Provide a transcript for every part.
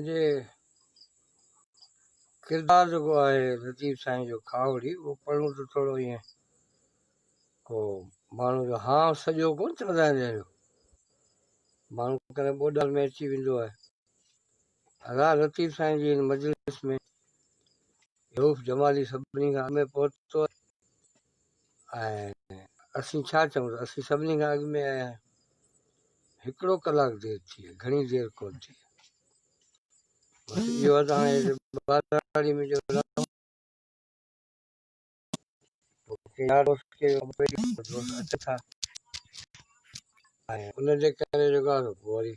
جي ڪردار جيڪو آهي لطيف سائين جو کاوڙي اهو پڙهون ته ٿورو ائين ڪو ماڻهو جو هانء سڄو ڪونه چوندا آهن جنهن جو ماڻهو ڪڏهن ٻوڏ ۾ اچي ويندو آهي هزار لطيف سائين جي هن مجلس ۾ رئوف جمالي سڀني کان اڳ ۾ پهتو ۽ اسين ڇا چئون ته اسين سڀني کان اڳ ۾ آيا آهيون هڪڙو ڪلاڪ دير ٿي آهي گهڻي دير ڪونه ٿي بس اهو ته هاڻي ٻاراڙي ۾ جو ڪي يار دوست ڪي آپريٽنگ ڪرڻ دوست اچن ٿا ۽ انهن جي ڪري جيڪو آهي پوء وري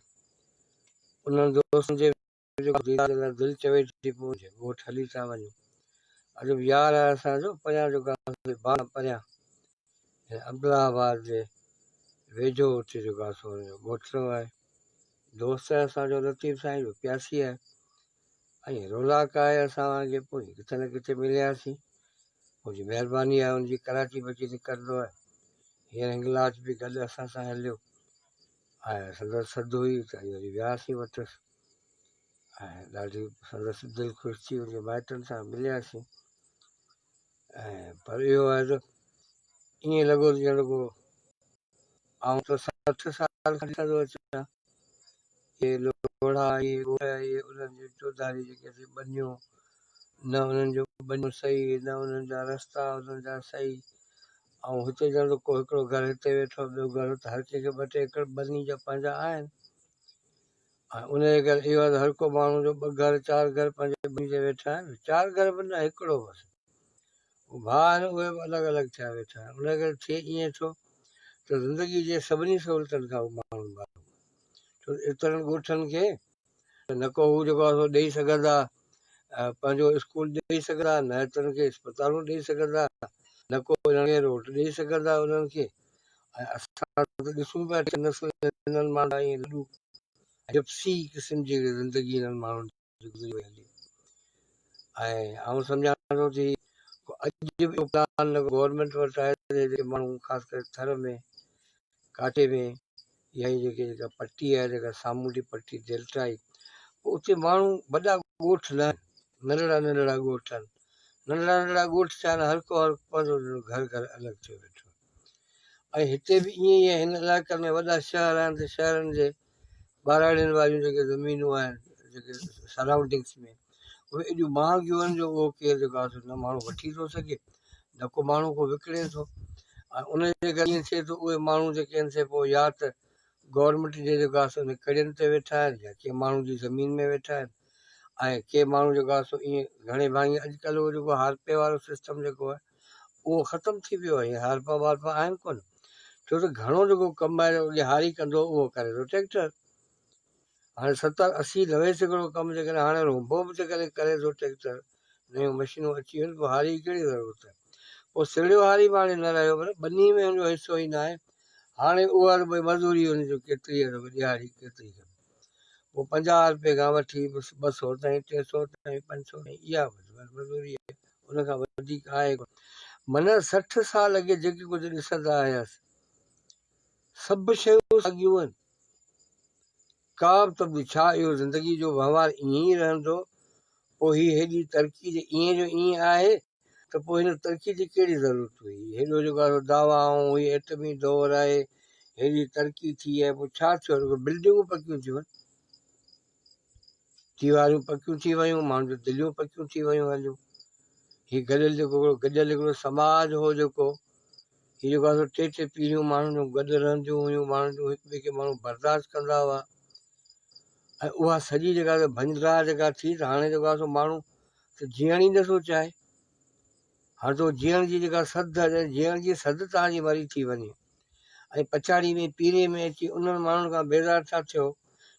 انهن دوستن جي جيڪو ديدار جي لاء دل چوي ٿي پوء جي ڳوٺ هلي ٿا وڃون عجب يار آهي اسان جو پريان جيڪو آهي باغ پريان يعني عبدالله آباد جي ويجهو اتي جيڪو آهي سو ڳوٺ آهي دوست آهي اسان جو لطيف سائين جو پياسي آهي ائين روناڪ آهي اسان وارن جي پوء ڪٿي نه ڪٿي ملياسين ان جي مهرباني آهي ان جي ڪراچي به اچي نڪرندو آهي هينئر هنگلاج به گڏ اسان سان هليو ۽ سندس سڌ هئي ته ائين وري وياسين وٽس ۽ ڏاڍي سندس دل خوش ٿي ان جي مائٽن سان ملياسين ۽ پر اهو آهي ته ائين لڳو ته ڄڻ رڳو آئون ته سٺ سال کان ڏسندو اچان اهي لوڙها ۽ ڳوڙها ئي انهن جون چوڌاريون جيڪي اسين ٻنيون، نه انهن جون ٻنيون صحيح، نه انهن جا رستا انهن جا صحيح. ۽ هتي ڄڻ ته ڪو هڪڙو گهر هتي ويٺو ٻيو گهر هت، هر ڪنهن کي ٻه ٽي ايڪڙ ٻني جا پنهنجا آهن. ۽ انهيء ڪري اهو آهي ته هر ڪو ماڻهو جو ٻه گهر چار گهر پنهنجي ٻني جي ويٺا آهن، چار گهر به نه هڪڙو بس. هو ڀاء آهن اهي به الڳ الڳ ٿيا ويٺا آهن ان ڪري ٿئي ائين ٿو ته زندگي جي سڀني سهولتن کان هو ماڻهو محروم ڇو ايترن ڳوٺن کي ته نه ڪو هو جيڪو آسو ڏيئي سگهندا پنهنجو اسڪول ڏيئي سگهندا نه ايترن کي اسپتالون ڏيئي سگهندا نه ڪو انهن کي روٽ ڏيئي سگهندا انهن کي اسان ڏسون پيا نسل هنن ماڻهن ۽ لڏو جپسي قسم جي زندگي هنن ماڻهن گذري وئي هوندي ۽ آئون سمجهان ٿو تي اڄ به اهو پلان گورنمينٽ وٽ آهي ته جيڪي ماڻهو خاص ڪري ٿر ۾ ڪاٺي ۾ يا جيڪي جيڪا پٽي آهي جيڪا سامونڊي پٽي ڊيلٽائي اتي ماڻهو وڏا ڳوٺ نه ننڍڙا ننڍڙا ڳوٺ آهن ننڍڙا ننڍڙا ڳوٺ ٿيا آهن هر ڪو هر پنهنجو گهر گهر الڳ ٿيو ويٺو ۽ هتي به ائين ئي آهي هن علائقن ۾ وڏا شهر آهن ته شهرن جي ٻهراڙين واريون جيڪي زمينون آهن جيڪي سرائونڊنگس ۾ اهي ايڏيون مهانگيون آهن جو اهو ڪير جيڪو آهي نه ماڻهو وٺي ٿو سگهي نه ڪو ماڻهو ڪو وڪڻي ٿو ۽ ان جي ڪري ائين ٿئي ٿو اهي ماڻهو جيڪي آهن سي پوء يا ته گورنمينٽ جي جيڪو آهي سو ان ڪڙين تي ويٺا آهن يا ڪنهن ماڻهو جي زمين ۾ ويٺا آهن ۽ ڪي ماڻهو جيڪو آهي سو ائين گهڻي ڀاڱي اڄڪلهه اهو جيڪو هارپي وارو سسٽم جيڪو آهي اهو ختم ٿي ويو آهي هارپا وارپا آهن ڪونه ڇو ته گهڻو جيڪو ڪم آهي اڳي هاري ڪندو هو اهو ڪري ٿو ٽريڪٽر هاڻي ستر اسي نوي سيڪڙو ڪم جيڪڏهن هاڻي روبو به جيڪڏهن ڪري ٿو ٽريڪٽر نيون مشينون اچي ويون پوء هاري جي ڪهڙي ضرورت آهي پوء سرڙيو هاري به هاڻي نه رهيو پر ٻني ۾ هن جو حصو ئي نه آهي هاڻي اها مزوري هن جو ڪيتري ڏيهاڙي ڪيتري پوء پنجاهه روپيه کان وٺي ٻه سؤ تائين، ٽي سؤ تائين، پنج سؤ تائين اها وڌيل مزوري آهي، ان کان وڌيڪ آهي ڪونه. من سٺ سال اڳي جيڪي ڪجهه ڏسندا آياس، سڀ شيون ساڳيون آهن. ڪا به تبديلي ڇا؟ اهو زندگيء جو وهنوار ائين ئي رهندو؟ پوء هي هيڏي ترقي جي ائين جو ائين آهي؟ ته پوء هن ترقيء جي ڪهڙي ضرورت هئي؟ هيڏو جيڪارو دعويٰ آئون هئي ائٽمي دؤر آهي، هيڏي ترقي ٿي آهي، پوء ڇا ٿيو رڳو بلڊنگون پڪيون ٿيون، ديواريون پڪيون ٿي ويون، ماڻهن جون دليون پڪيون ٿي ويون هليون. هي گڏيل جيڪو هڪڙو گڏيل هڪڙو سماج هو جيڪو هي جيڪو آهي سو ٽي ٽي پيڙهيون ماڻهن جون گڏ رهنديون هيون، ماڻهن جون هڪ ٻئي کي ماڻهو برداشت ڪندا هئا ۽ اها سڄي جيڪا ڀڃ ڊاهه جيڪا ٿي ته هاڻي جيڪو آهي سو ماڻهو ته جيئڻ ئي نٿو چاهي. هاڻ تو جيئڻ جي جيڪا سڌ آهي ڄڻ جيئڻ جي سڌ تان جي مري ٿي وڃي ۽ پڇاڙيء ۾ پيري ۾ اچي انهن ماڻهن کان بيزار ٿا ٿيو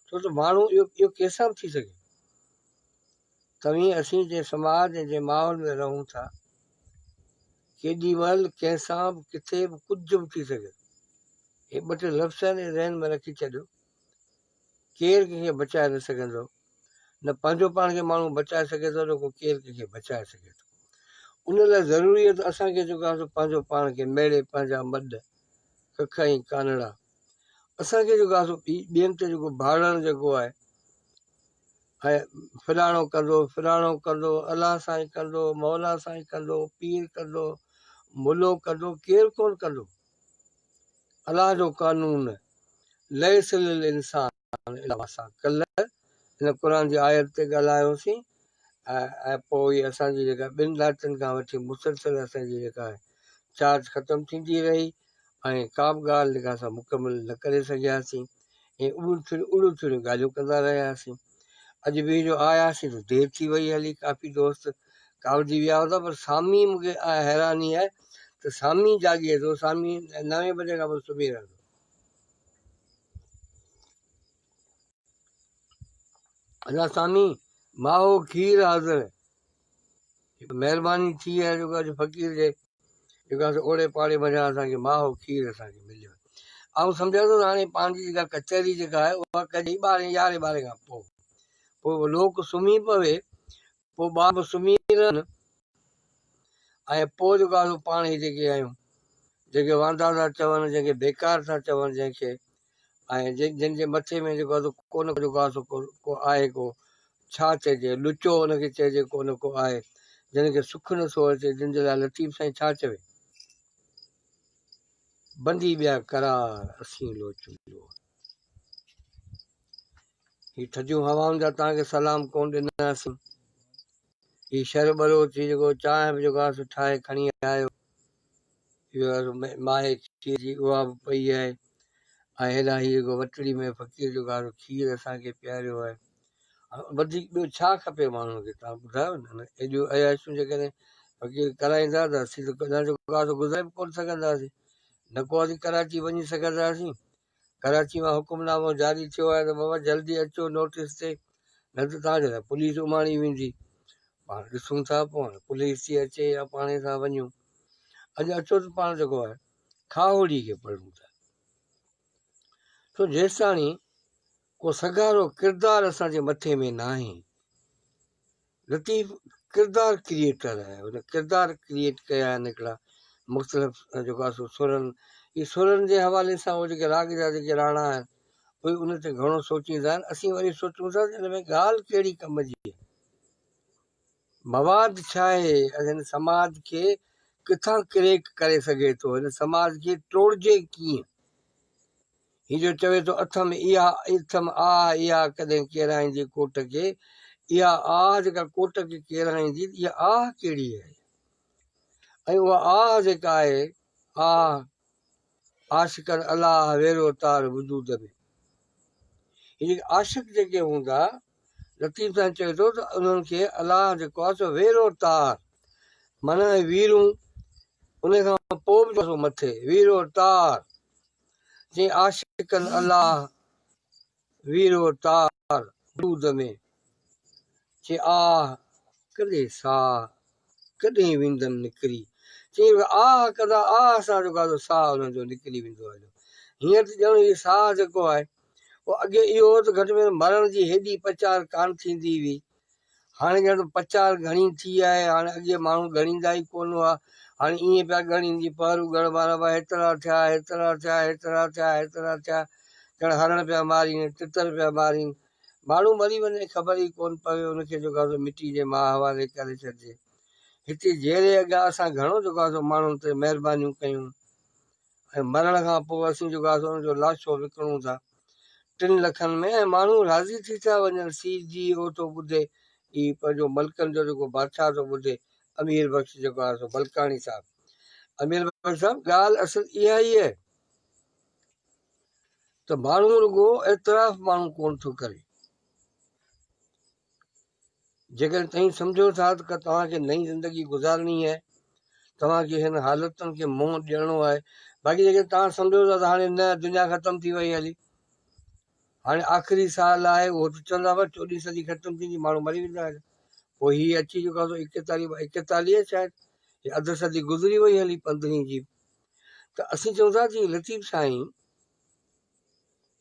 ڇو ته ماڻهو اهو اهو ڪيسان به ٿي سگهي. توهين اسين جنهن سماج ۽ جنهن ماحول ۾ رهون ٿا ڪيڏي مهل ڪنهن سان به ڪٿي به ڪجهه به ٿي سگهي ٿو. هي ٻه ٽي لفظ آهن اهي ذهن ۾ رکي ڇڏيو. ڪير ڪنهن کي بچائي نه سگهندو، نه پنهنجو پاڻ کي ماڻهو بچائي سگهي ٿو نه ڪو ڪير ڪنهن کي بچائي سگهي ٿو. ان لاء ضروري آهي ته اسان ڪي جيڪو آهيون سو پنهنجو پاڻ کي ميڙي پنهنجا مڏ، ڪک ۽ ڪانئڙا اسان ڪي جيڪو آهيون سو ٻين تي جيڪو ڀاڙڻ جيڪو آهي ۽ فلاڻو ڪندو، فلاڻو ڪندو، الله سائين ڪندو، مولا سائين ڪندو، پير ڪندو، ملو ڪندو، ڪير ڪونه ڪندو. الله جو قانون ليس للانسان الا ما سعي ڪلهه هن قرآن جي آيت تي ڳالهايو هوسين ۽ پوء هي اسان جي جيڪا ٻن ڏهاڪن کان وٺي مسلسل اسان جي جيڪا چارج ختم ٿيندي رهي ۽ ڪا به ڳالهه جيڪا اسان مڪمل نه ڪري سگهياسين ائين اڙيون ٿيڻيون اڙيون ٿيڻيون ڳالهيون ڪندا رهياسين. اڄ به جو آياسين ته دير ٿي وئي هلي ڪافي دوست ڪاوڙجي ويا هوندا پر سامي مون کي حيراني آهي ته سامي جاڳي ٿو سامي نوين بجي کان پوء سمهي رهندو. ادا سامي ماهو کير حاضر. جيڪو مهرباني ٿي ۽ جيڪو اڄ فقير جي جيڪو آهي سو اوڙي پاڙي منجهان اسان کي ماء هو کير اسان کي مليو آهي. آئون سمجهان ٿو ته هاڻي پنهنجي جيڪا ڪچهري جيڪا آهي اها ڪجي ٻارهين يارهين ٻارهين کان پوء. پوء لوڪ سمهي پوي، پوء ٻار به سمهي رهن ۽ پوء جيڪو آهي سو پاڻ هي جيڪي آهيون جيڪي واندا ٿا چون، جنهن کي بيڪار ٿا چون جنهن کي ۽ جن جي مٿي ۾ جيڪو آهي سو ڪونه جو ڪا سو ڪو آهي ڪو ڇا چئجي لچو ان کي چئجي ڪونه ڪو آهي جن کي سک نه ٿو اچي جن جي لاء لطيف سائين ڇا چوي بندي ٻيا قرار اسين لوچون جو هي ٿڌيون هوائن جا توهان کي سلام ڪونه ڏناسين هي شر ٻلوچ ٿي جيڪو چانهه به جيڪو آهي سو ٺاهي کڻي آيو اهو آهي سو ماهي کير جي اها به پئي آهي ۽ هيڏانهن هي جيڪو وٽڙي ۾ فقير جيڪو آهي سو کير اسان کي پياريو آهي وڌيڪ ٻيو ڇا کپي ماڻهوء کي توهان ٻڌايو نه ايڏيون عياشيون جيڪڏهن فقير ڪرائيندا ته اسين ته ڪڏهن جيڪو آهي سو گذري به ڪونه سگهنداسين نه ڪو اسين ڪراچي وڃي سگهنداسين ڪراچي مان حڪم نامو جاري ٿيو آهي ته بابا جلدي اچو نوٽيس تي نه ته توهان کي ته پوليس اماڻي ويندي پاڻ ڏسون ٿا پوء هاڻي پوليس ٿي اچي يا پاڻي سان وڃون اڄ اچو ته پاڻ جيڪو آهي کاهوڙي کي پڙهون ٿا سو جيستاڻي ڪو سگهارو ڪردار اسان جي مٿي ۾ ناهي لطيف ڪردار ڪريئيٽر آهي هن ڪردار ڪريئيٽ ڪيا آهن هڪڙا مختلف جيڪو آهي سو سرن هي سرن جي حوالي سان هو جيڪي راڳ جا جيڪي راڻا آهن اهي ان تي گهڻو سوچيندا آهن اسين وري سوچون ٿا ته ان ۾ ڳالهه ڪهڙي ڪم جي آهي مواد ڇا آهي هن سماج کي ڪٿان ڪريڪ ڪري سگهي ٿو هن سماج کي ٽوڙجي ڪيئن هي جو چوي ٿو اٿم اها اٿم آه اها ڪڏهن ڪيرائيندي ڪوٽ کي اها آه جيڪا ڪوٽ کي ڪيرائيندي ته اها آه ڪهڙي آهي ۽ اها آه جيڪا آهي آه عاشقن الله ويرو تار وجود ۾ هي جيڪي عاشق جيڪي هوندا لطيف سان چوي ٿو ته انهن کي الله جيڪو آهي سو ويرو تار معنيٰ ويرون ان کان پوء به مٿي ويرو تار جي عاشقن الله وير و تار وجود ۾، چي آه ڪڏي ساهه ڪڏهن ويندم نڪري، چي آهه ڪدا آهه سان جيڪو آهي سو ساهه انهن جو نڪري ويندو آهي جو هينئر ته ڄڻ هي ساهه جيڪو آهي اهو اڳي اهو هو ته گهٽ ۾ گهٽ مرڻ جي هيڏي پچار ڪانه ٿيندي هئي هاڻي ڄڻ ته پچار گهڻي ٿي آهي. هاڻي اڳي ماڻهو ڳڻيندا ئي ڪونه هئا. هاڻي ائين پيا ڳڻين جيئن پهرو ڳڻ وارا هئا، هيترا ٿيا، هيترا ٿيا، هيترا ٿيا، هيترا ٿيا، ڄڻ هرڻ پيا مارين ۽ تتر پيا مارين. ماڻهو مري وڃي ۽ خبر ئي ڪونه پوي، ان کي جيڪو آهي سو مٽي جي ماء حوالي ڪري ڇڏجي. هتي جيئري اڳيان اسان گهڻو جيڪو آهي سو ماڻهن تي مهربانيون ڪيون. ۽ مرڻ کان پوء اسين جيڪو آسي ان جو لاشو وڪڻون ٿا ٽن لکن ۾ ۽ ماڻهو راضي ٿي ٿا وڃن سي جي او ٿو ٻڌي هي پنهنجو ملڪن جو جيڪو بادشاهه ٿو ٻڌي امير بخش جيڪو آهي سو بلڪاڻي صاحب امير بخش صاحب ڳالهه اصل اها ئي آهي ته ماڻهو رڳو اعتراف ماڻهو ڪونه ٿو ڪري جيڪڏهن توهين سمجهو ٿا ته توهان کي نئين زندگي گذارڻي آهي، توهان کي هن حالتن کي منهن ڏيڻو آهي، باقي جيڪڏهن توهان سمجهو ٿا ته هاڻي نه، دنيا ختم ٿي وئي هلي، هاڻي آخري ساهه لاهي اهو ته چوندا بس چوڏهين صدي ختم ٿيندي، ماڻهو مري ويندا هلي، پوء هي اچي چڪا سو ايڪيتاليهه ايڪيتاليهه شايد، هي اڌ صدي گذري وئي هلي پندرهين جي به، ته اسين چئون ٿا ته لطيف سائين!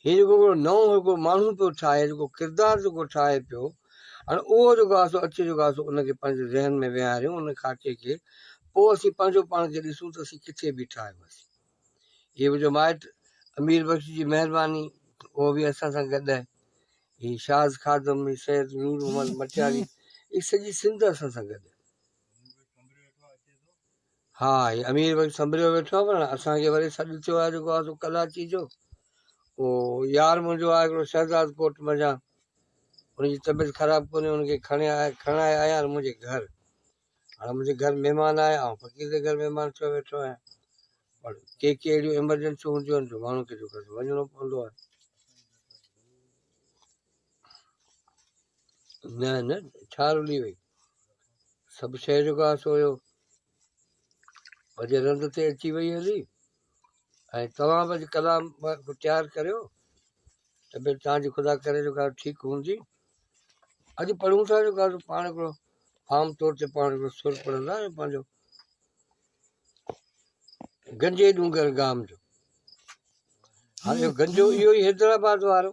هي جيڪو هڪڙو نئون هڪڙو ماڻهو پيو ٺاهي جيڪو ڪردار جيڪو ٺاهي پيو هاڻي اهو جيڪو آهي سو اچي جيڪو آهي سو ان کي پنهنجي ذهن ۾ ويهاريون ان خاڪي کي پوء اسين پنهنجو پاڻ کي ڏسون ته اسين ڪٿي بيٺا آهيون اسين هي منهنجو مائٽ امير بخش جي مهرباني اهو به اسان سان گڏ آهي هي شاز خادم هي سيد نور محمد مٽياري هي سڄي سنڌ اسان سان گڏ ها هي امير وڃي سنڀريو ويٺو آهي پر اسان کي وري سڏ ٿيو آهي جيڪو آهي سو ڪلاچي جو او يار منهنجو آهي هڪڙو شهزاد ڪوٽ منجهان ان جي طبيعت خراب ڪونهي ان کي کڻي آيا کڻائي آيا آهن منهنجي گهر هاڻ منهنجي گهر مهمان آهي آئون فقير جي گهر مهمان ٿيو ويٺو آهيان پر ڪي ڪي اهڙيون ايمرجنسيون هونديون آهن جو ماڻهو کي جو ڪري وڃڻو پوندو آهي نه نه ڇا رلي وئي سڀ شيء جو ڪا سو هيو اڄ رند تي اچي وئي هلي ۽ توهان به اڄ ڪلام تيار ڪريو ته به تان جي خدا ڪري جو ڳالهه ٺيڪ هوندي اڄ پڙهون ٿا جو ڳالهه پاڻ هڪڙو عام طور تي پاڻ هڪڙو سر پڙهندا آهيون پنهنجو گنجي ڏونگر گام جو هاڻي گنجو اهو ئي حيدرآباد وارو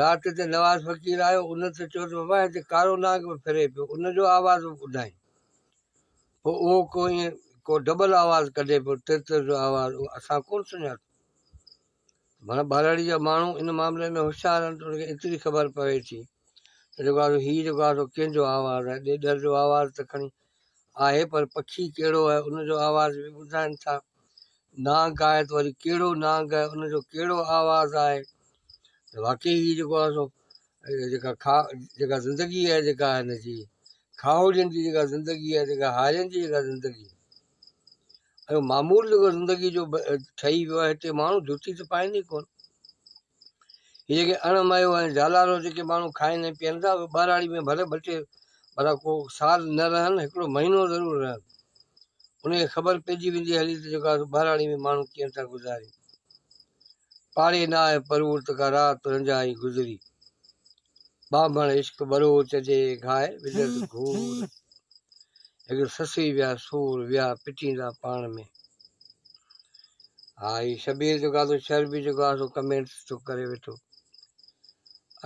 رات تي نواز فقير آيو، ان تي چيو ته بابا هتي ڪارو نانگ به ڦري پيو، ان جو آواز به ٻڌائين. پوء اهو ڪو ائين ڪو ڊبل آواز ڪڍي پيو، تر تر جو آواز، اهو اسان ڪونه سڃاتو. معنيٰ ٻهراڙيء جا ماڻهو ان معاملي ۾ هوشيار آهن ته انهن کي ايتري خبر پوي ٿي ته جيڪو آهي سو هي جيڪو آهي سو ڪنهن جو آواز آهي، ڏيڏر جو آواز ته کڻي آهي پر پکي ڪهڙو آهي ان جو آواز به ٻڌائين ٿا. نانگ آهي ته وري ڪهڙو نانگ آهي ان جو ڪهڙو آواز آهي ته واقعي هي جيڪو آهي سو جيڪا کا جيڪا زندگي آهي جيڪا هن جي کاهوڙين جي جيڪا زندگي آهي جيڪا هارين جي جيڪا زندگي ۽ معمول جيڪو زندگي جو ٺهي ويو آهي هتي ماڻهو جوتي ته پائين ئي ڪون هي جيڪي اڻ مايو ۽ جهالارو جيڪي ماڻهو کائن ۽ پيئن ٿا، اهي ٻهراڙي ۾ ڀلي ٻه ٽي ڀلا ڪو سال نه رهن، هڪڙو مهينو ضرور رهن. انهيء کي خبر پئجي ويندي هلي ته جيڪو آسو ٻهراڙي ۾ ماڻهو ڪيئن ٿا گذارين. پاڙي نه آهي پروڙ ته ڪا رات رنجهائي گذري. ٻانڀڻ عشق ٻروچ جي گاء وجهه ته گهور هڪ سسئي ويا سور ويا پٽيندا پاڻ ۾ ها هي شبير جو گادو شهر به جو گاهه سو ڪمينٽس ٿو ڪري ويٺو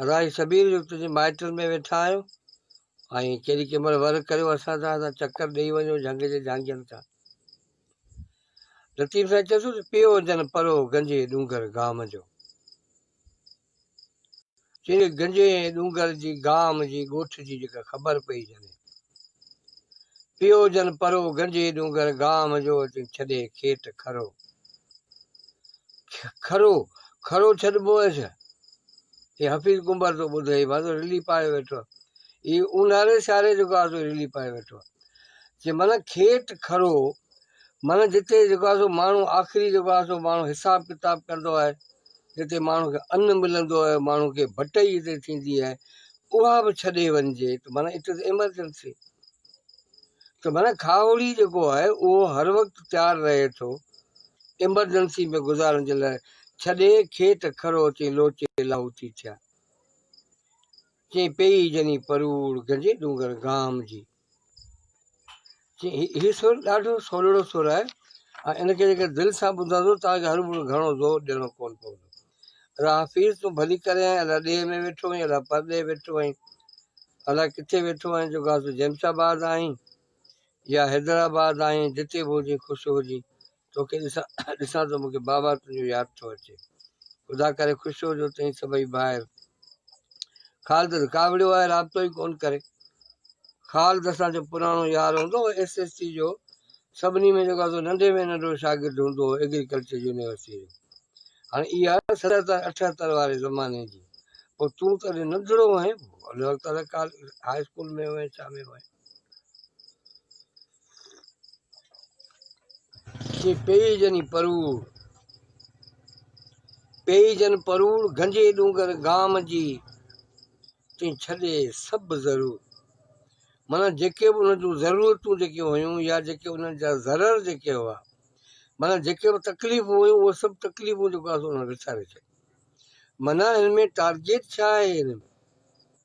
ادا هي شبير جو تنهنجي مائٽن ۾ ويٺا آهيو ۽ ڪيڏي ڪنهن مهل ور ڪريو اسان سان اسان چڪر ڏيئي وڃو جهنگ جي جهانگين کان لطيف سائين چيو ته پيو جن پرو گنجي ڏونگر گام جو چين کي گنجي ۽ ڏونگر جي گام جي ڳوٺ جي جيڪا خبر پئي جني پيو جن پرو گنجي ڏونگر گام جو چين ڇڏي کيٽ کرو کرو کرو ڇڏبو هيس هي حفيظ ڪنبر تو ٻڌي هي بازو رلي پائي ويٺو هي اونهاري ساري جيڪو آزو رلي پائي ويٺو چي من کيٽ کرو معنيٰ جتي جيڪو آهي سو ماڻهو آخري جيڪو آهي سو ماڻهو حساب ڪتاب ڪندو آهي، جتي ماڻهو کي ان ملندو آهي، ماڻهو کي ڀٽئي جتي ٿيندي آهي، اها به ڇڏي وڃجي ته معنيٰ اٽ از ايمرجنسي. ته معنيٰ کاهوڙي جيڪو آهي اهو هر وقت تيار رهي ٿو ايمرجنسي ۾ گذارڻ جي لاء، ڇڏي کيت کڙو چئي لوچي لاهوتي ٿيا. چئي پيئي جني پروڙ گنجي ڏونگر گام جي. هي سر ڏاڍو سولڙو سر آهي ۽ ان کي جيڪر دل سان ٻڌندو توهان کي هر ڀيرو گهڻو زور ڏيڻو ڪونه پوندو. الا حفيظ تون ڀلي ڪرين آهين الا ڏيهه ۾ ويٺو آهين الا پرڏيهه ويٺو آهين الا ڪٿي ويٺو آهين جو گاس جيمش آباد آهين يا حيدرآباد آهين جتي به هجين خوش هجين. توکي ڏسان ٿو مون کي بابا تنهنجو ياد ٿو اچي خدا ڪري خوش هجو تئين سڀئي ڀائر خالد رڪاوڙيو آهي رابطو ئي ڪون ڪري خالد اسان جو پراڻو يار هوندو هو ايس ايس سي جو سڀني ۾ جيڪو سو ننڍي ۾ ننڍو شاگرد هوندو هو ايگريڪلچر يونيورسٽي جو هاڻي اها ستر اٺهتر واري زماني جي پوء تون ته ننڍڙو هئين ان وقت هاء اسڪول ۾ هئين ڇا ۾ هئين جي پيئي جني پروڙ، پيئي جن پروڙ، گهنجي ڏونگر گام جي، تنهن ڇڏي سڀ ضرور. معنيٰ جيڪي به ان جون ضرورتون جيڪي هيون يا جيڪي انهن جا ضرر جيڪي هئا، معنيٰ جيڪي به تڪليفون هيون اهي سڀ تڪليفون جيڪو آهي سو ان وساري ڇڏيون. معنيٰ هن ۾ ٽارگيٽ ڇا آهي هن ۾؟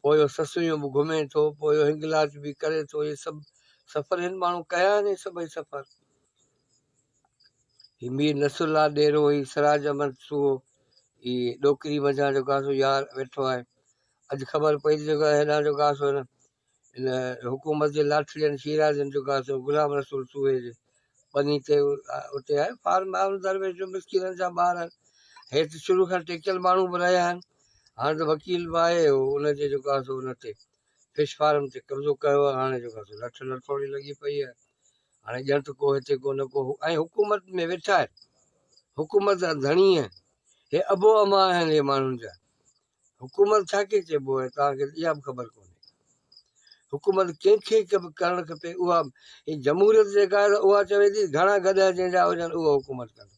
پوء اهو سسويون به گهمي ٿو، پوء اهو هنگلاچ به ڪري ٿو، اهي سڀ سفر هن ماڻهو ڪيا آهن اهي سڀئي سفر. هي مير نصرالله ڏيرو، هي سراج احمد سوهو، هي ڏوڪري منجهان جو گاسو يار ويٺو آهي. اڄ خبر پئي ته جيڪو هيڏانهن جو گاسو هن ان حڪومت جي لاٺڙين شيرازين جو گاسو غلام رسول سوئي جي ٻني تي اتي آهي. فارم هارون درويش جو مسڪينن جا ٻار آهن. هيت شروع کان ٽيڪيل ماڻهو به رهيا آهن. هاڻ ته وڪيل به آهي هو ان جي جو گاسو ان تي فش فارم تي قبضو ڪيو آهي. هاڻي جو گاسو لٺ لٺوڙي لڳي پئي آهي. هاڻي ڄڻ ته ڪو هتي ڪو نه ڪو ۽ حڪومت ۾ ويٺا آهن. حڪومت جا ڌڻي آهن. هي ابو اما آهن هي ماڻهن جا. حڪومت کي ڇا چئبو آهي توهان کي اها به خبر ڪونهي حڪومت ڪنهن کي ڪرڻ کپي اها جمهوريت جيڪا آهي اها چوي ٿي گهڻا گڏهه جنهن جا هجن اهو حڪومت ڪن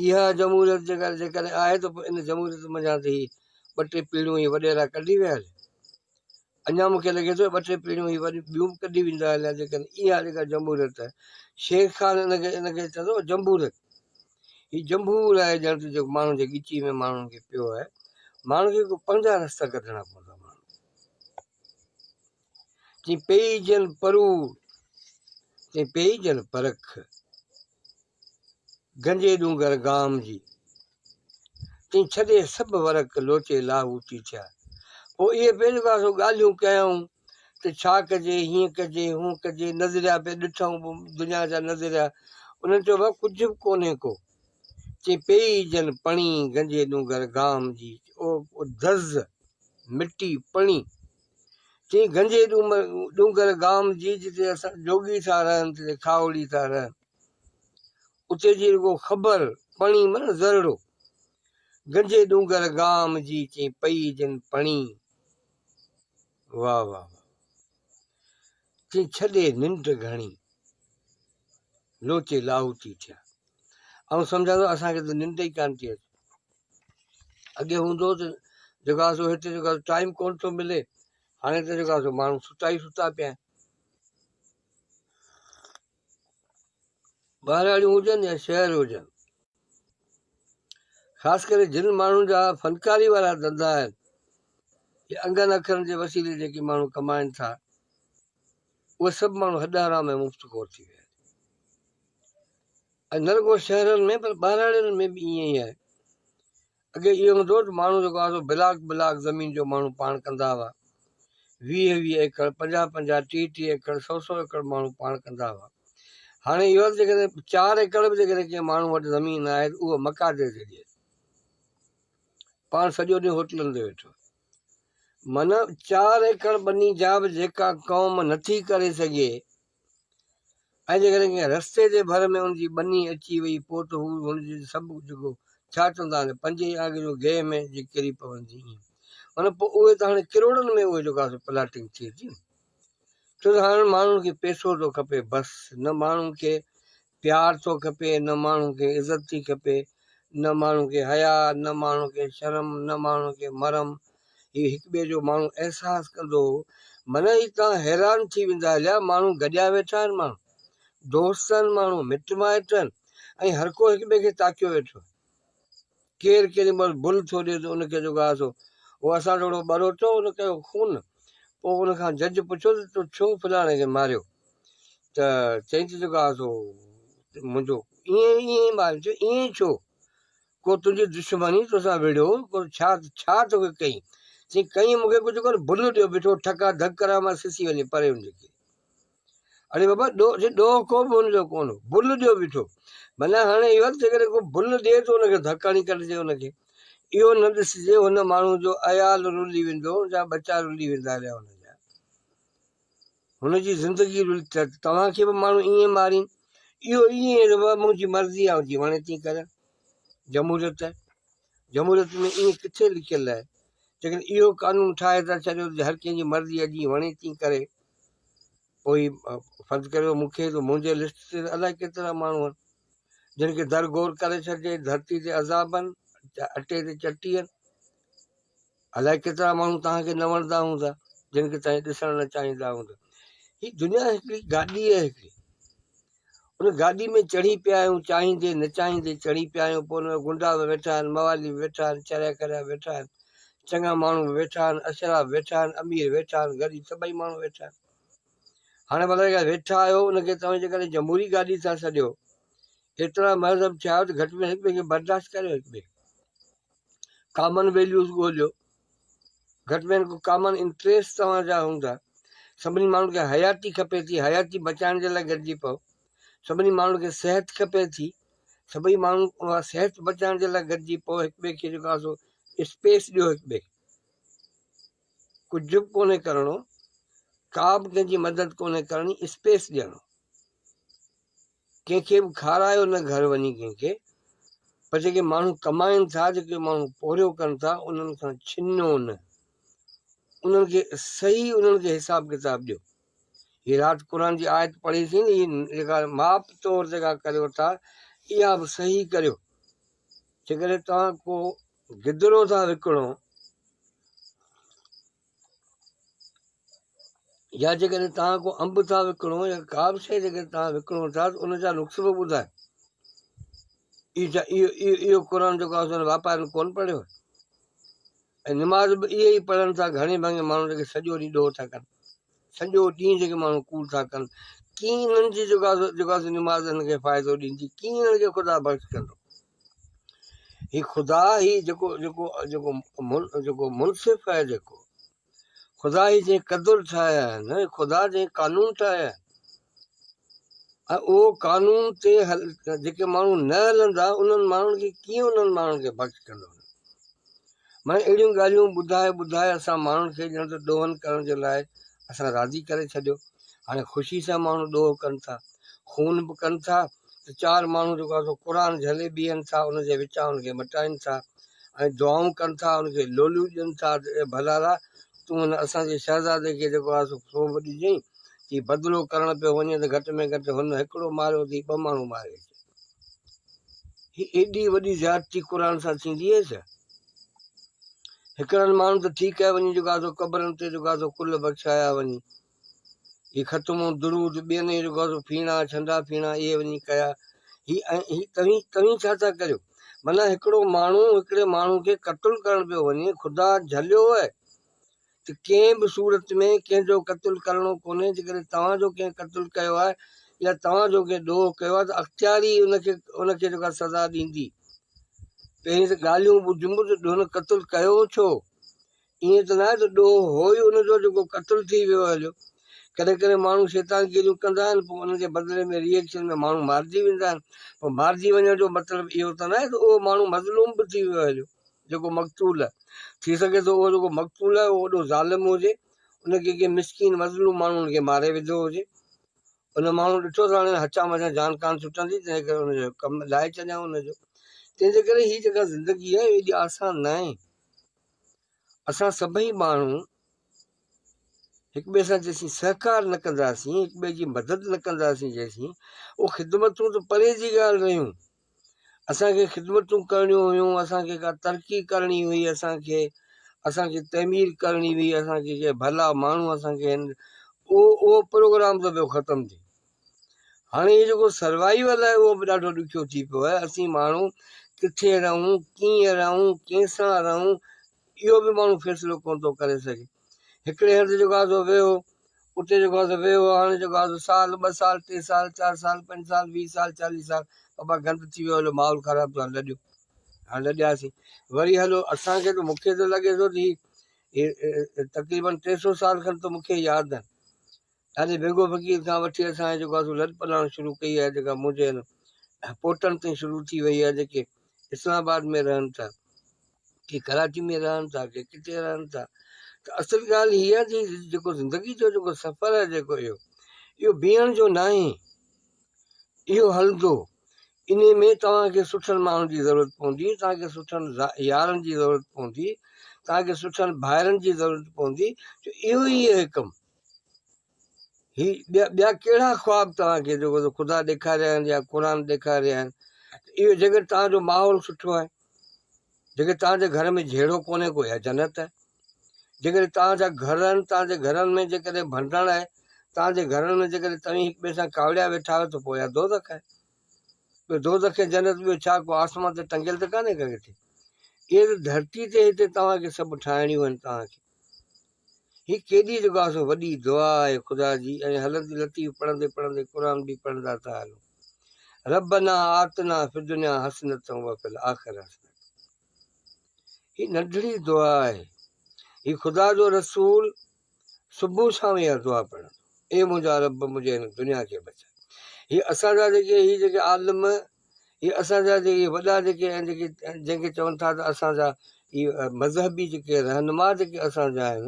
اها جمهوريت جيڪا جيڪڏهن آهي ته ان جمهوريت منجهان ته ٻه ٽي پيڙهيون هي وڏيرا ڪڍي ويا اڃا مون کي لڳي ٿو ٻه ٽي پيڙهيون هي وري ٻيون به ڪڍي ويندا هليا جي ڪن اها آهي جيڪا جمهوريت آهي شير خان ان کي ان کي چوندو هو جمبوريت هي جمبور آهي ڄڻ ته جيڪو ماڻهن جي ڳچي ۾ ماڻهن کي پيو آهي ماڻهن کي ڪو پنهنجا رستا ڪڍڻا پوندا تي پيئي جن پرور تي پيئي جن پرک گنجي ڏونگر گام جي. تين ڇڏي سڀ ورق لوٽي لاهوتي ٿيا. پوء اهي پنهنجو ڪا سو ڳالهيون ڪيائون ته ڇا ڪجي، هيئن ڪجي، هونئن ڪجي، نظريا پئي ڏٺائون دنيا جا نظريا. انهن چيو ڀاء ڪجهه به ڪونهي ڪو. تين پيئي جن پڻي گنجي ڏونگر گام جي. او دز، مٽي، پڻي. تين گنجي ڏونگر گام جي جتي اسان جوڳي ٿا رهن، تتي کاهوڙي ٿا رهن. اتي جي رڳو خبر پڻي من زرڙو، گنجي ڏونگر گام جي چين پئي جن پڻي واھ واھ چين ڇڏي ننڊ گهڻي لوچي لاهوتي ٿيا آئون سمجهان ٿو اسان کي ته ننڊ ئي ڪانه ٿي اچي اڳي هوندو ته جيڪو آسو هتي جيڪو آسو ٽائيم ڪون ٿو ملي هاڻي ته جيڪو آسو ماڻهو ستا ئي ستا پيا آهن ٻهراڙيون هجن يا شهر هجن خاص ڪري جن ماڻهن جا فنڪاري وارا ڌندا آهن يا انگن اکرن جي وسيلي جيڪي ماڻهو ڪمائن ٿا اهي سڀ ماڻهو هڏ حرام ۽ مفت خور ٿي ويا آهن نه رڳو شهرن ۾ پر ٻهراڙين ۾ به ائين ئي آهي اڳي اهو هوندو هو ته ماڻهو جيڪو آهي سو بلاڪ بلاڪ زمين جو ماڻهو پاڻ ڪندا هئا. ويهه ويهه ايڪڙ، پنجاهه پنجاهه، ٽيهه ٽيهه ايڪڙ، سؤ سؤ ايڪڙ ماڻهو پاڻ ڪندا هئا. هاڻي اهو آهي ته جيڪڏهن چار ايڪڙ به جيڪڏهن ڪنهن ماڻهو وٽ زمين آهي ته اهو مقادير ٿي ڏئي. پاڻ سڄو ڏينهن هوٽلن تي ويٺو. معنيٰ چار ايڪڙ ٻني جا به جيڪا قوم نٿي ڪري سگهي، ۽ جيڪڏهن ڪنهن رستي جي ڀر ۾ ان جي ٻني اچي وئي پوء ته هو هن جي سڀ جڳو ڇا چوندا آهن پنجي يا آگريو گيهه ۾ جي ڪري پوندي ائين ان پوء اهي ته هاڻي ڪروڙن ۾ اهي جوڪا سو پلاٽنگ ٿئي ٿي ڇو ته هاڻي ماڻهن کي پيسو ٿو کپي بس نه ماڻهن کي پيار ٿو کپي نه ماڻهو کي عزت ٿي کپي نه ماڻهو کي حياء نه ماڻهو کي شرم نه ماڻهو کي مرم هي هڪ ٻئي جو ماڻهو احساس ڪندو هو منهن هي تان حيران ٿي ويندا هليا ماڻهو گڏيا ويٺا آهن ماڻهو دوست آهن ماڻهو مٽ مائٽ آهن ۽ هر ڪو هڪ ٻئي کي تاڪيو ويٺو آهي ڪير ڪيڏي مھل بھل ٿو ڏئي ته ان کي جو گاھه ٿو اھو اسان جھڙو ٻروچو ان ڪيو خون پوء ان کان جج پڇيو ته تو ڇو فلاڻي کي ماريو ته چئين ته جو گاھه ٿو منھنجو ائين ائين ٻارن چيو ائين ئي ڇو ڪو تنھنجي دشمني توسان وڙھيو ڪو ڇا ڇا توکي ڪئين چئين ڪئين مون کي ڪجهه ڪونه بھل ڏيو بيٺو ٺڪا ڌڪ ڪران مان سسي وڃي پري ھن جي ڪري اڙي بابا ڏوهه ڪو به هن جو ڪونه هو، بل ڏيو بيٺو. معنيٰ هاڻي اهو ته جيڪڏهن ڪو بل ڏئي ته ان کي ڌڪ هڻي ڪڍجي ان کي اهو نه ڏسجي هن ماڻهو جو عيال رلي ويندو جا ٻچا رلي ويندا رهيا هن جا هن جي زندگي رلي ته توهان کي به ماڻهو ائين مارين اهو ائين منهنجي مرضي آء جيئن وڻي تيئن ڪريان جمهوريت جمهوريت ۾ ائين ڪٿي لکيل آهي. جيڪڏهن اهو قانون ٺاهي ٿا ڇڏيو ته هر ڪنهن جي مرضي آهي جيئن وڻي تيئن ڪري پوء فرض ڪريو مون کي ته منهنجي لسٽ تي الائي ڪيترا ماڻهو آهن جن کي در گور ڪري ڇڏجي، ڌرتي تي عذابن، اٽي تي چٽين. الائي ڪيترا ماڻهو توهان کي نه وڻندا هوندا جن کي توهان ڏسڻ نه چاهيندا هوندا هي دنيا هڪڙي گاڏي آهي هڪڙي ان گاڏي ۾ چڙهي پيا آهيون چاهيندي نه چاهيندي چڙهي پيا آهيون پوء ان گنڊا به ويٺا آهن موالي به ويٺا آهن چريا ڪريا ويٺا آهن چڱا ماڻهو به ويٺا آهن اشرا به ويٺا آهن امير ويٺا آهن غريب سڀئي ماڻهو ويٺا آهن هاڻي ڀلا جيڪا ويٺا آهيو ان کي توهان جيڪڏهن جمهوري گاڏي ٿا سڏيو ايترا مهذب ٿيا آهيو ته گهٽ ۾ گهٽ هڪ ٻئي کي برداشت ڪريو هڪ ٻئي ڪامن ويليوز ڳوليو گهٽ ۾ گهٽ ڪامن انٽريسٽ توهان جا هوندا سڀني ماڻهن کي حياتي کپي ٿي حياتي بچائڻ جي لاء گڏجي پئو سڀني ماڻهن کي صحت کپي ٿي سڀئي ماڻهو اها صحت بچائڻ جي لاء گڏجي پئو هڪ ٻئي کي جيڪو آسو اسپيس ڏيو هڪ ٻئي ڪجهه به ڪونهي ڪرڻو ڪا به ڪنهن جي مدد ڪونهي ڪرڻي اسپيس ڏيڻو ڪنهن کي به کارايو نه گهر وڃي ڪنهن کي پر جيڪي ماڻهو ڪمائن ٿا جيڪي ماڻهو پورهيو ڪن ٿا انهن کان ڇنو نه انهن کي صحيح انهن کي حساب ڪتاب ڏيو هي رات قرآن جي آيت پڙهي ٿي نه هي جيڪا ماپ طور جيڪا ڪريو ٿا اها به صحيح ڪريو جيڪڏهن توهان ڪو گدرو ٿا وڪڻو يا جيڪڏهن توهان ڪو انب ٿا وڪڻو يا ڪا به شيء جيڪڏهن توهان وڪڻو ٿا ته ان جا نقص به ٻڌايو. اهو قرآن جيڪو آهي سو واپارين ڪون پڙهيو ۽ نماز به اهي ئي پڙهن ٿا گهڻي ڀاڱي ماڻهو جيڪي سڄو ڏينهن ڏوهه ٿا ڪن سڄو ڏينهن جيڪي ماڻهو ڪوڙ ٿا ڪن ڪيئن انهن جي جيڪو آهي سو نماز هن کي فائدو ڏيندي ڪيئن انهن کي خدا بخش ڪندو هي خدا هي جيڪو جيڪو جيڪو جيڪو منصف آهي جيڪو خدا هي جنهن قدر ٺاهيا آهن هي خدا جنهن قانون ٺاهيا آهن ۽ اهو قانون تي هل جيڪي ماڻهو نه هلندا انهن ماڻهن کي ڪيئن انهن ماڻهن کي بخش ڪندو معنيٰ اهڙيون ڳالهيون ٻڌائي ٻڌائي اسان ماڻهن کي ڄڻ ته ڏوهن ڪرڻ جي لاء اسان راضي ڪري ڇڏيو. هاڻي خوشي سان ماڻهو ڏوهه ڪن ٿا. خون به ڪن ٿا ته چار ماڻهو جيڪو آهي سو قرآن جهلي بيهن ٿا ان جي وچان ان کي مٽائين ٿا ۽ دعائون ڪن ٿا ان کي لوليون ڏين ٿا ته اي ڀلارا تون هن اسان جي شهزادي کي جيڪو آهي سو سون به ڏجئين جي بدلو ڪرڻ پيو وڃي ته گهٽ ۾ گهٽ هن هڪڙو ماريو اٿئي ٻه ماڻهو ماري اچ. هي ايڏي وڏي زيادتي قرآن سان ٿيندي هئي ڇا؟ هڪڙن ماڻهن ته ٺيڪ ڪيا وڃي جو گازو قبرن تي جو گازو ڪل بخشايا وڃي. هي ختمو درود ٻين اهي جو گازو ڦيڻا ڇنڊا ڦيڻا اهي وڃي ڪيا. هي ۽ هي توهين توهين ڇا ٿا ڪريو؟ معنيٰ هڪڙو ماڻهو هڪڙي ماڻهو کي قتل ڪرڻ پيو وڃي خدا جهليو هئي ته ڪنهن به صورت ۾ ڪنهن جو قتل ڪرڻو ڪونهي، جيڪڏهن توهان جو ڪنهن قتل ڪيو آهي يا توهان جو ڪنهن ڏوهه ڪيو آهي ته اختيار ئي ان کي ان کي جيڪا سزا ڏيندي. پهرين ته ڳالهيون ٻڌيون ته هن قتل ڪيو ڇو؟ ائين ته ناهي ته ڏوهه هو ئي ان جو جيڪو قتل ٿي ويو هليو. ڪڏهن ڪڏهن ماڻهو شيطانگيريون ڪندا آهن پوء ان جي بدلي ۾ ري ايڪشن ۾ ماڻهو مارجي ويندا آهن. پر مارجي وڃڻ جو مطلب اهو ته ناهي ته اهو ماڻهو مظلوم به ٿي ويو هليو. جيڪو مقتول ٿي سگهي ٿو اهو جيڪو مقتول آهي اهو وڏو ظالم هجي ان کي ڪنهن مسڪين مظلوم ماڻهو ان کي ماري وڌو هجي ان ماڻهو ڏٺو ته هاڻي هچا مچا جان ڪانه ڇٽندي تنهن ڪري ان جو ڪم لاهي ڇڏيائون ان جو تنهن جي ڪري هي جيڪا زندگي آهي ايڏي آسان نه آهي اسان سڀئي ماڻهو هڪ ٻئي سان جيسين سهڪار نه ڪنداسين هڪ ٻئي جي مدد نه ڪنداسين جيسين اهو خدمتون ته پري جي ڳالهه رهيون اسان کي خدمتون ڪرڻيون هيون، اسان کي ڪا ترقي ڪرڻي هئي، اسان کي اسان کي تعمير ڪرڻي هئي، اسان کي ڪي ڀلا ماڻهو اسان کي هن اهو اهو پروگرام ته ويو ختم ٿي. هاڻي هي جيڪو سروائيول آهي اهو به ڏاڍو ڏکيو ٿي پيو آهي، اسين ماڻهو ڪٿي رهون، ڪيئن رهون، ڪنهن سان رهون، اهو به ماڻهو فيصلو ڪونه ٿو ڪري سگهي. هڪڙي هنڌ جيڪو آزو ويهو، اتي جيڪو آزو ويهو، هاڻي جيڪو آزو سال، ٻه سال، ٽي سال، چار سال، پنج سال، ويهه سال، چاليهه سال، ابا گند ٿي ويو هلو ماحول خراب ٿيو هاڻي لڏيو. هاڻي لڏياسين وري هلو اسان کي ته مون کي ته لڳي ٿو ته هي تقريبن ٽي سؤ سال کن ته مون کي ياد آهن. ڏاڏي بيگو فقير کان وٺي اسان جيڪو آسو لڏ پلاڻ شروع ڪئي آهي جيڪا منهنجي هن پوٽن تائين شروع ٿي وئي آهي جيڪي اسلام آباد ۾ رهن ٿا ڪي ڪراچي ۾ رهن ٿا ڪي ڪٿي رهن ٿا ته اصل ڳالهه هي آهي جي جيڪو زندگي جو جيڪو سفر آهي جيڪو اهو اهو بيهڻ جو ناهي اهو هلندو ان ۾ توهان کي سٺن ماڻهن جي ضرورت پوندي توهان کي سٺن يارن جي ضرورت پوندي توهان کي سٺن ڀائرن جي ضرورت پوندي جو اهو ئي هي ڪم هي ٻيا ڪهڙا خواب توهان کي جيڪو خدا ڏيکاريا آهن يا قرآن ڏيکاريا آهن اهو جيڪڏهن توهان جو ماحول سٺو آهي جيڪڏهن توهان جي گهر ۾ جهيڙو ڪونهي ڪو يا جنت آهي جيڪڏهن توهان جا گهر آهن توهان جي گهرن ۾ جيڪڏهن ڀنڊڻ آهي توهان جي گهرن ۾ جيڪڏهن توهين هڪ ٻئي سان ڪاوڙيا ويٺا آهيو ته پوء يا دوزخ آهي ٻيو دوزخ ۽ جنت ٻيو ڇا ڪو آسمان تي ٽنگيل ته ڪانهي ڪنهن کي اهي ته ڌرتي تي هتي توهان کي سڀ ٺاهڻيون آهن توهان کي هي ڪيڏي جيڪو آسو وڏي دعا آهي خدا جي ۽ هلندي لطيف پڙهندي پڙهندي قرآن به پڙهندا ٿا هلون ربنا آتنا في الدنيا حسنة وفي الآخرة حسنة هي ننڍڙي دعا آهي هي خدا جو رسول صبح شام اها دعا پڙهن اي منهنجا رب منهنجي هن دنيا کي بچا هي اسان جا جيڪي هي جيڪي عالم هي اسان جا جي اهي وڏا جيڪي آهن جيڪي جنهن کي چون ٿا ته اسان جا هي مذهبي جيڪي رهنما جيڪي اسان جا آهن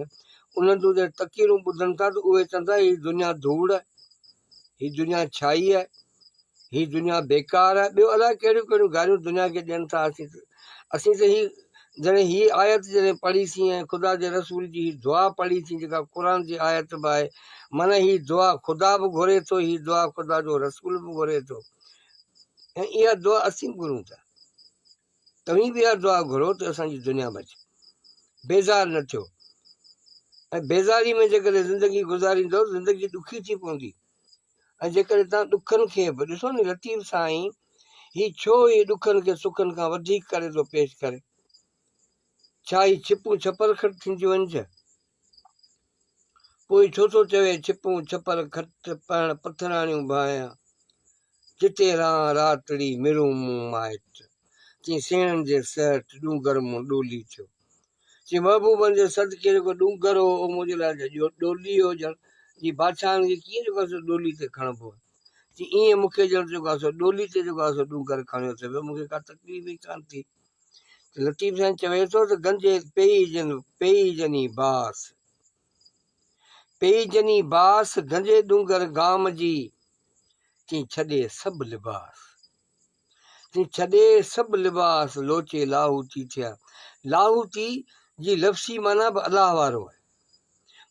انهن جون جڏهن تقريرون ٻڌن ٿا ته اهي چون ٿا هي دنيا ڌوڙ آهي هي دنيا ڇائي آهي هي دنيا بيڪار آهي ٻيو الاء ڪهڙيون ڪهڙيون ڳالهيون دنيا کي ڏين ٿا اسين اسين ته هي جڏهن هي آيت جڏهن پڙهيسين ۽ خدا جي رسول جي هي دعا پڙهيسين جيڪا قرآن جي آيت به آهي معنيٰ هي دعا خدا به گهري ٿو هي دعا خدا جو رسول به گهري ٿو ۽ اها دعا اسين به گهرون ٿا. توهين به اها دعا گهرو ته اسان جي دنيا بچي. بيزار نه ٿيو ۽ بيزاري ۾ جيڪڏهن زندگي گذاريندو زندگي ڏکي ٿي پوندي ۽ جيڪڏهن توهان ڏکن کي به ڏسو ني لطيف سائين هي ڇو هي ڏکن کي سکن کان وڌيڪ ڪري ٿو پيش ڪري ڇا هي ڇپون ڇپر کٽ ٿينديون آهن ڇا پوء ڇو ٿو چوي ڇپون ڇپر کٽ پهڻ پٿراڻيون ڀانئيا، جتي رهان راتڙي مرون مون مائٽ. چي سيڻن جي سهٽ ڏونگر مون ڏولي ٿيو. چي محبوبن جي صدقي جيڪو ڏونگر هو اهو منهنجي لاء ته ڏولي هو ڄڻ. چي بادشاهن کي ڪيئن جيڪو آهي سو ڏولي تي کڻبو آهي. چي ايئن مون کي ڄڻ جيڪو آهي سو ڏولي تي جيڪو آهي سو ڏونگر کڻيو ته به مون کي ڪا تڪليف ئي ڪانه ٿي. لطيف سائين چوي ٿو ته گنجي پئي جن پئي جني باس پئي جني باس گنجي ڏونگر گام جي تين ڇڏي سڀ لباس تين ڇڏي سڀ لباس لوچي لاهوتي ٿيا لاهوتي جي لفظي معنی به الله وارو آهي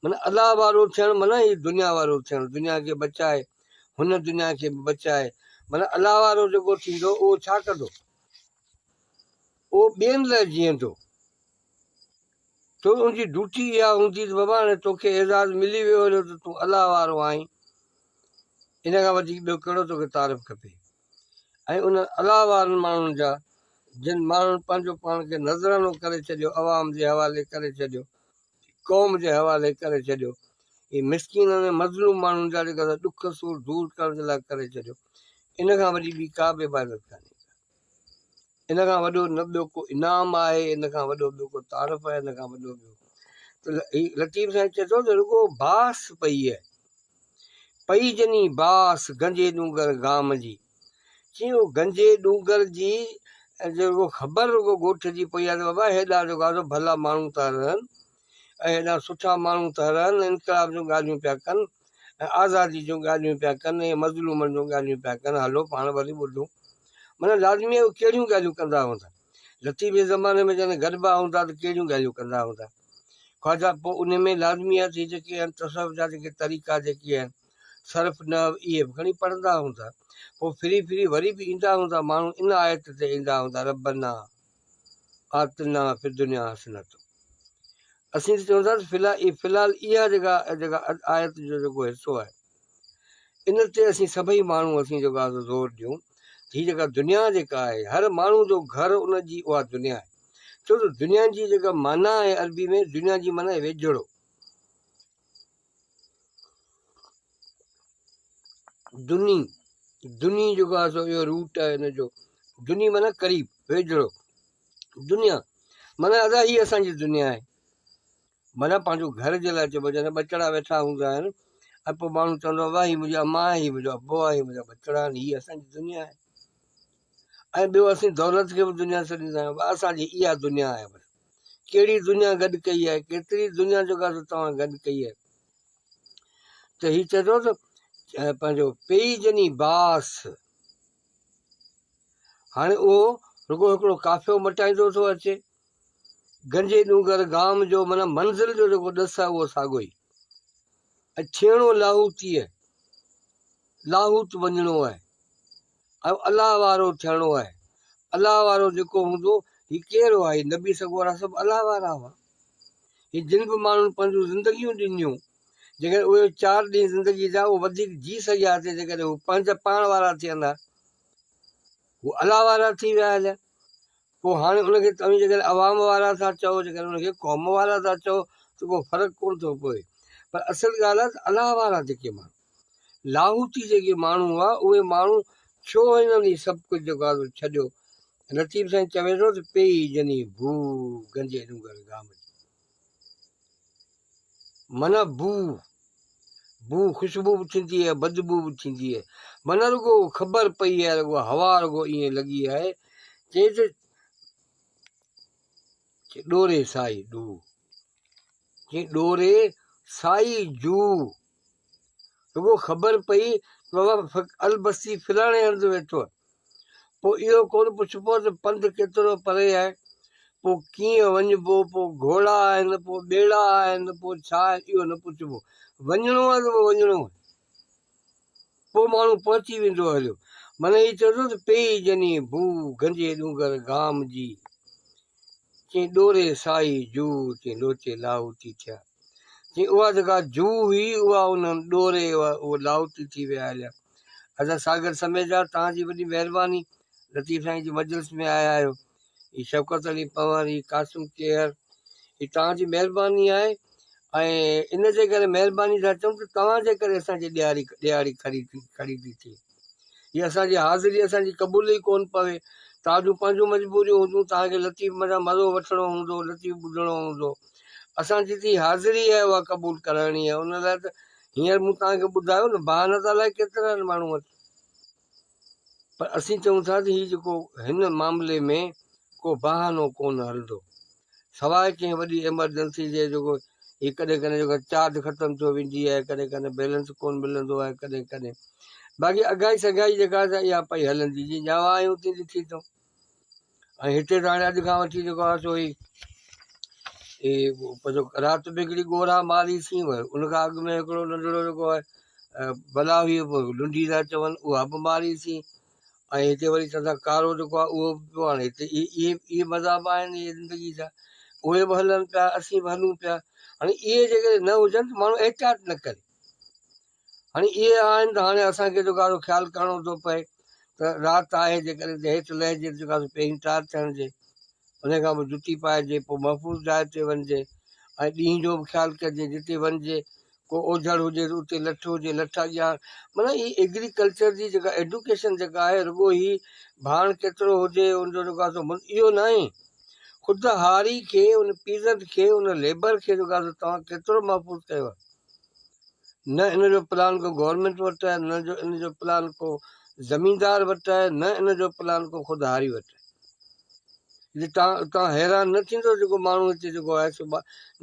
معنی الله وارو ٿيڻ معنی هي دنيا وارو ٿيڻ دنيا کي بچائي هن دنيا کي به بچائي معنی الله وارو جيڪو ٿيندو اهو ڇا ڪندو اهو ٻين لاء جيئندو. تنهن جي ڊيوٽي اها هوندي ته بابا هاڻي تو کي اعزاز ملي ويو هليو ته تون الله وارو آهين. ان کان وڌيڪ ٻيو ڪهڙو تو کي تعارف کپي. ۽ انهن الله وارن ماڻهن جا جن ماڻهن پنهنجو پاڻ کي نذرانو ڪري ڇڏيو عوام جي حوالي ڪري ڇڏيو قوم جي حوالي ڪري ڇڏيو هي مسڪينن ۽ مظلوم ماڻهن جا جيڪا سا ڏک سور دور ڪرڻ جي لاء ڪري ڇڏيو ان کان وڏي ٻي ڪا به عبادت ڪانهي ان کان وڏو نه ٻيو ڪو انعام آهي ان کان وڏو ٻيو ڪو تعارف آهي ان کان وڏو ٻيو ته هي لطيف سائين چئي ٿو ته رڳو باس پئي پئي جني باس گنجي ڏونگر گام جي چي او گنجي ڏونگر جي رڳو خبر رڳو ڳوٺ جي پئي آهي ته بابا هيڏا جيڪو آهي سو ڀلا ماڻهو ٿا رهن ۽ هيڏا سٺا ماڻهو ٿا رهن انقلاب جون ڳالهيون پيا ڪن ۽ آزادي جون ڳالهيون پيا ڪن ۽ مظلومن جون ڳالهيون پيا ڪن هلو پاڻ وري ٻڌون معنيٰ لازمي آهي اهي ڪهڙيون ڳالهيون ڪندا هوندا لطيف جي زماني ۾ جڏهن گڏبا هوندا ته ڪهڙيون ڳالهيون ڪندا هوندا خواجا پوء ان ۾ لازمي آهي ته هي جيڪي آهن تصوف جا جيڪي طريقا جيڪي آهن صرف نه اهي به کڻي پڙهندا هوندا پوء ڦري ڦري وري به ايندا هوندا ماڻهو ان آيت تي ايندا هوندا ربّنا آتنا في الدنيا حسنة اسين ته چونداسين في الحال في الحال اها جيڪا جيڪا آيت جو جيڪو حصو آهي ان تي اسين سڀئي ماڻهو اسين جيڪو آهي زور ڏيون هي جيڪا دنيا جيڪا آهي هر ماڻهو جو گهر ان جي اها دنيا آهي ڇو جو دنيا جي جيڪا معنيٰ آهي عربي ۾ دنيا جي معنيٰ ويجهڙو دني، دني جيڪو آهي سو اهو روٽ آهي ان جو، دني معنيٰ قريب، ويجهڙو، دنيا معنيٰ ادا هي اسان جي دنيا آهي، معنيٰ پنهنجو گهر جي لاء چئبو جڏهن ٻچڙا ويٺا هوندا آهن ۽ پوء ماڻهو چوندو آهي واهه هي منهنجي اما آهي هي منهنجو ابو آهي هي منهنجا ٻچڙا آهن هي اسان جي دنيا آهي ۽ ٻيو اسين دولت کي به دنيا سڏيندا آهيون اسان جي اها دنيا آهي بس ڪهڙي دنيا گڏ ڪئي آهي ڪيتري دنيا جو گاهه توهان گڏ ڪئي آهي ته هي چئي ٿو ته پنهنجو پيئي جني باس هاڻي اهو رڳو هڪڙو قافيو مٽائيندو ٿو اچي گنجي ڏونگر گام جو مانا منزل جو جيڪو ڏس آهي اهو ساڳو ئي ڇيڻو لاهوتيء لاهوت وڃڻو آهي اهو الله وارو ٿيڻو آهي. الله وارو جيڪو هوندو، هي ڪير هئا؟ هي نبي سڳورا سڀ الله وارا هئا. هي جن به ماڻهن پنهنجون زندگيون ڏنيون، جيڪڏهن اهي چار ڏينهن زندگيء جا اهو وڌيڪ جي سگهي ها ته جيڪڏهن هو پنهنجا پاڻ وارا ٿين ها. هو الله وارا ٿي ويا هليا. پوء هاڻي ان کي توهين جيڪڏهن عوام وارا ٿا چئو، جيڪڏهن ان کي قوم وارا ٿا چئو ته ڪو فرق ڪونه ٿو پوي. پر اصل ڳالهه آهي ته الله وارا جيڪي ماڻهو. لاهوتي جيڪي ماڻهو هئا اهي ماڻهو ڇو هنن هي سڀ ڪجهه جيڪو آهي سو ڇڏيو؟ لطيف سائين چوي ٿو ته پيئي جني بوء گنجي ڏونگر گام جي. معنيٰ بوء، بوء خوشبو به ٿيندي آهي بدبوء به ٿيندي آهي. معنيٰ رڳو خبر پئي آهي رڳو هوا رڳو ائين لڳي آهي چئي ته ڏوري سائي ڏوء، چئي ڏوري سائي جوء. رڳو خبر پئي ته بابا فقير البستي فلاڻي هنڌ ويٺو آهي. پوء اهو ڪونه پڇبو ته پنڌ ڪيترو پري آهي، پوء ڪيئن وڃبو، پوء گهوڙا آهن، پوء ٻيڙا آهن، پوء ڇا آهن، اهو نه پڇبو. وڃڻو آهي ته پوء وڃڻو آهي. پوء ماڻهو پهچي ويندو هليو. معنيٰ هي چئو ٿو ته پيئي ڄڃي ڀو گهنجي ڏونگر گام جي چين ڏوري سائي جوء چين لوچي لاهوتي ٿيا چين اها جيڪا جوء هئي اها ان ڏوري هئا اهو لاهوتي ٿي ويا هليا حضرت ساگر سميجا تهان جي وڏي مهرباني لطيف سائين جي مجلس ۾ آيا آهيو هي شوڪت علي پنهور، هي قاسم کيهر، هي توهان جي مهرباني آهي ۽ ان جي ڪري مهرباني ٿا چئون ته توهان جي ڪري اسان جي ڏياري ڏياري کڙي ٿي کڙي ٿي ٿئي. هي اسان جي حاضري اسان جي قبول ئي ڪونه پوي. توهان جون پنهنجون مجبوريون هونديون، توهان کي لطيف منان مزو وٺڻو هوندو، لطيف ٻڌڻو هوندو. اسان جي جي حاضري آهي اها قبول ڪرائڻي آهي، ان لاء ته هينئر مون توهان کي ٻڌايو نه بهانه ته الائي ڪيترن ماڻهون پر اسين چئون ٿا ته هي جيڪو هن معاملي ۾ ڪو بهانو ڪونه هلندو سواء ڪنهن وڏي ايمرجنسي جي جيڪو هي ڪڏهن ڪڏهن جيڪو چارج ختم ٿيو ويندي آهي ڪڏهن ڪڏهن بيلنس ڪونه ملندو آهي ڪڏهن ڪڏهن باقي اگهائي سگهائي جيڪا اها پئي هلندي جي ڄاوا آهيون تي لکي ٿو ۽ هتي ته هاڻي اڄ کان وٺي جيڪو آهي سو هي پنهنجو رات به هڪڙي ڳورا ماري سين ويو ان کان اڳ ۾ هڪڙو ننڍڙو جيڪو آهي بلا هئي لنڊي ٿا چون اها به ماري سين ۽ هتي وري چوندا ڪارو جيڪو آهي اهو به پيو هاڻي هتي اهي اهي مذهب آهن اهي زندگي جا اهي به هلن پيا اسين به هلون پيا هاڻي اهي جيڪڏهن نه هجن ته ماڻهو احتياط نه ڪري هاڻي اهي آهن ته هاڻي اسان کي جيڪو آسو خيال ڪرڻو ٿو پئي ته رات آهي جيڪڏهن ته هيٺ لهجي ته جيڪو آسو پهرين تار ٿيڻجي ان کان پوء جتي پائجي پوء محفوظ جاء تي وڃجي ۽ ڏينهن جو به خيال ڪجي جتي وڃجي ڪو اوجهڙ هجي ته اتي لٺ هجي لٺ اڳيان معنيٰ هي ايگريڪلچر جي جيڪا ايڊوڪيشن جيڪا آهي رڳو هي ڀاڻ ڪيترو هجي ان جو جيڪو آسو اهو ناهي خود هاري کي ان پيزنٽ کي ان ليبر کي جيڪو آسو توهان ڪيترو محفوظ ڪيو نه ان جو پلان ڪو گورنمينٽ وٽ آهي نه جو ان جو پلان ڪو زميندار وٽ آهي نه ان جو پلان ڪو خود هاري وٽ آهي جي تان تان حيران نه ٿيندو جيڪو ماڻهو هتي جيڪو آهي سو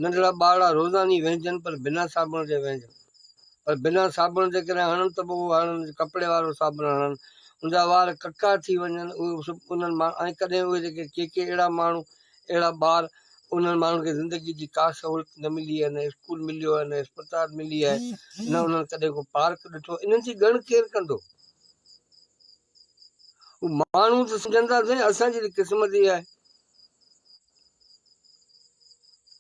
ننڍڙا ٻارڙا روزاني وهنجن پر بنا صابڻ جي وهنجن پر بنا صابڻ جي ڪڏهن هڻن ته به هڻن ڪپڙي وارو صابڻ هڻن ان جا وار ڪڪا ٿي وڃن اهي انهن مان ۽ ڪڏهن اهي جيڪي ڪي ڪي اهڙا ماڻهو اهڙا ٻار انهن ماڻهن کي زندگيء جي ڪا سهولت نه ملي آهي، نه اسڪول مليو آهي، نه اسپتال ملي آهي، نه انهن ڪڏهن ڪو پارڪ ڏٺو، انهن جي ڳڻ ڪير ڪندو؟ هو ماڻهو ته سمجهندا سائين اسان جي ته قسمت اها آهي.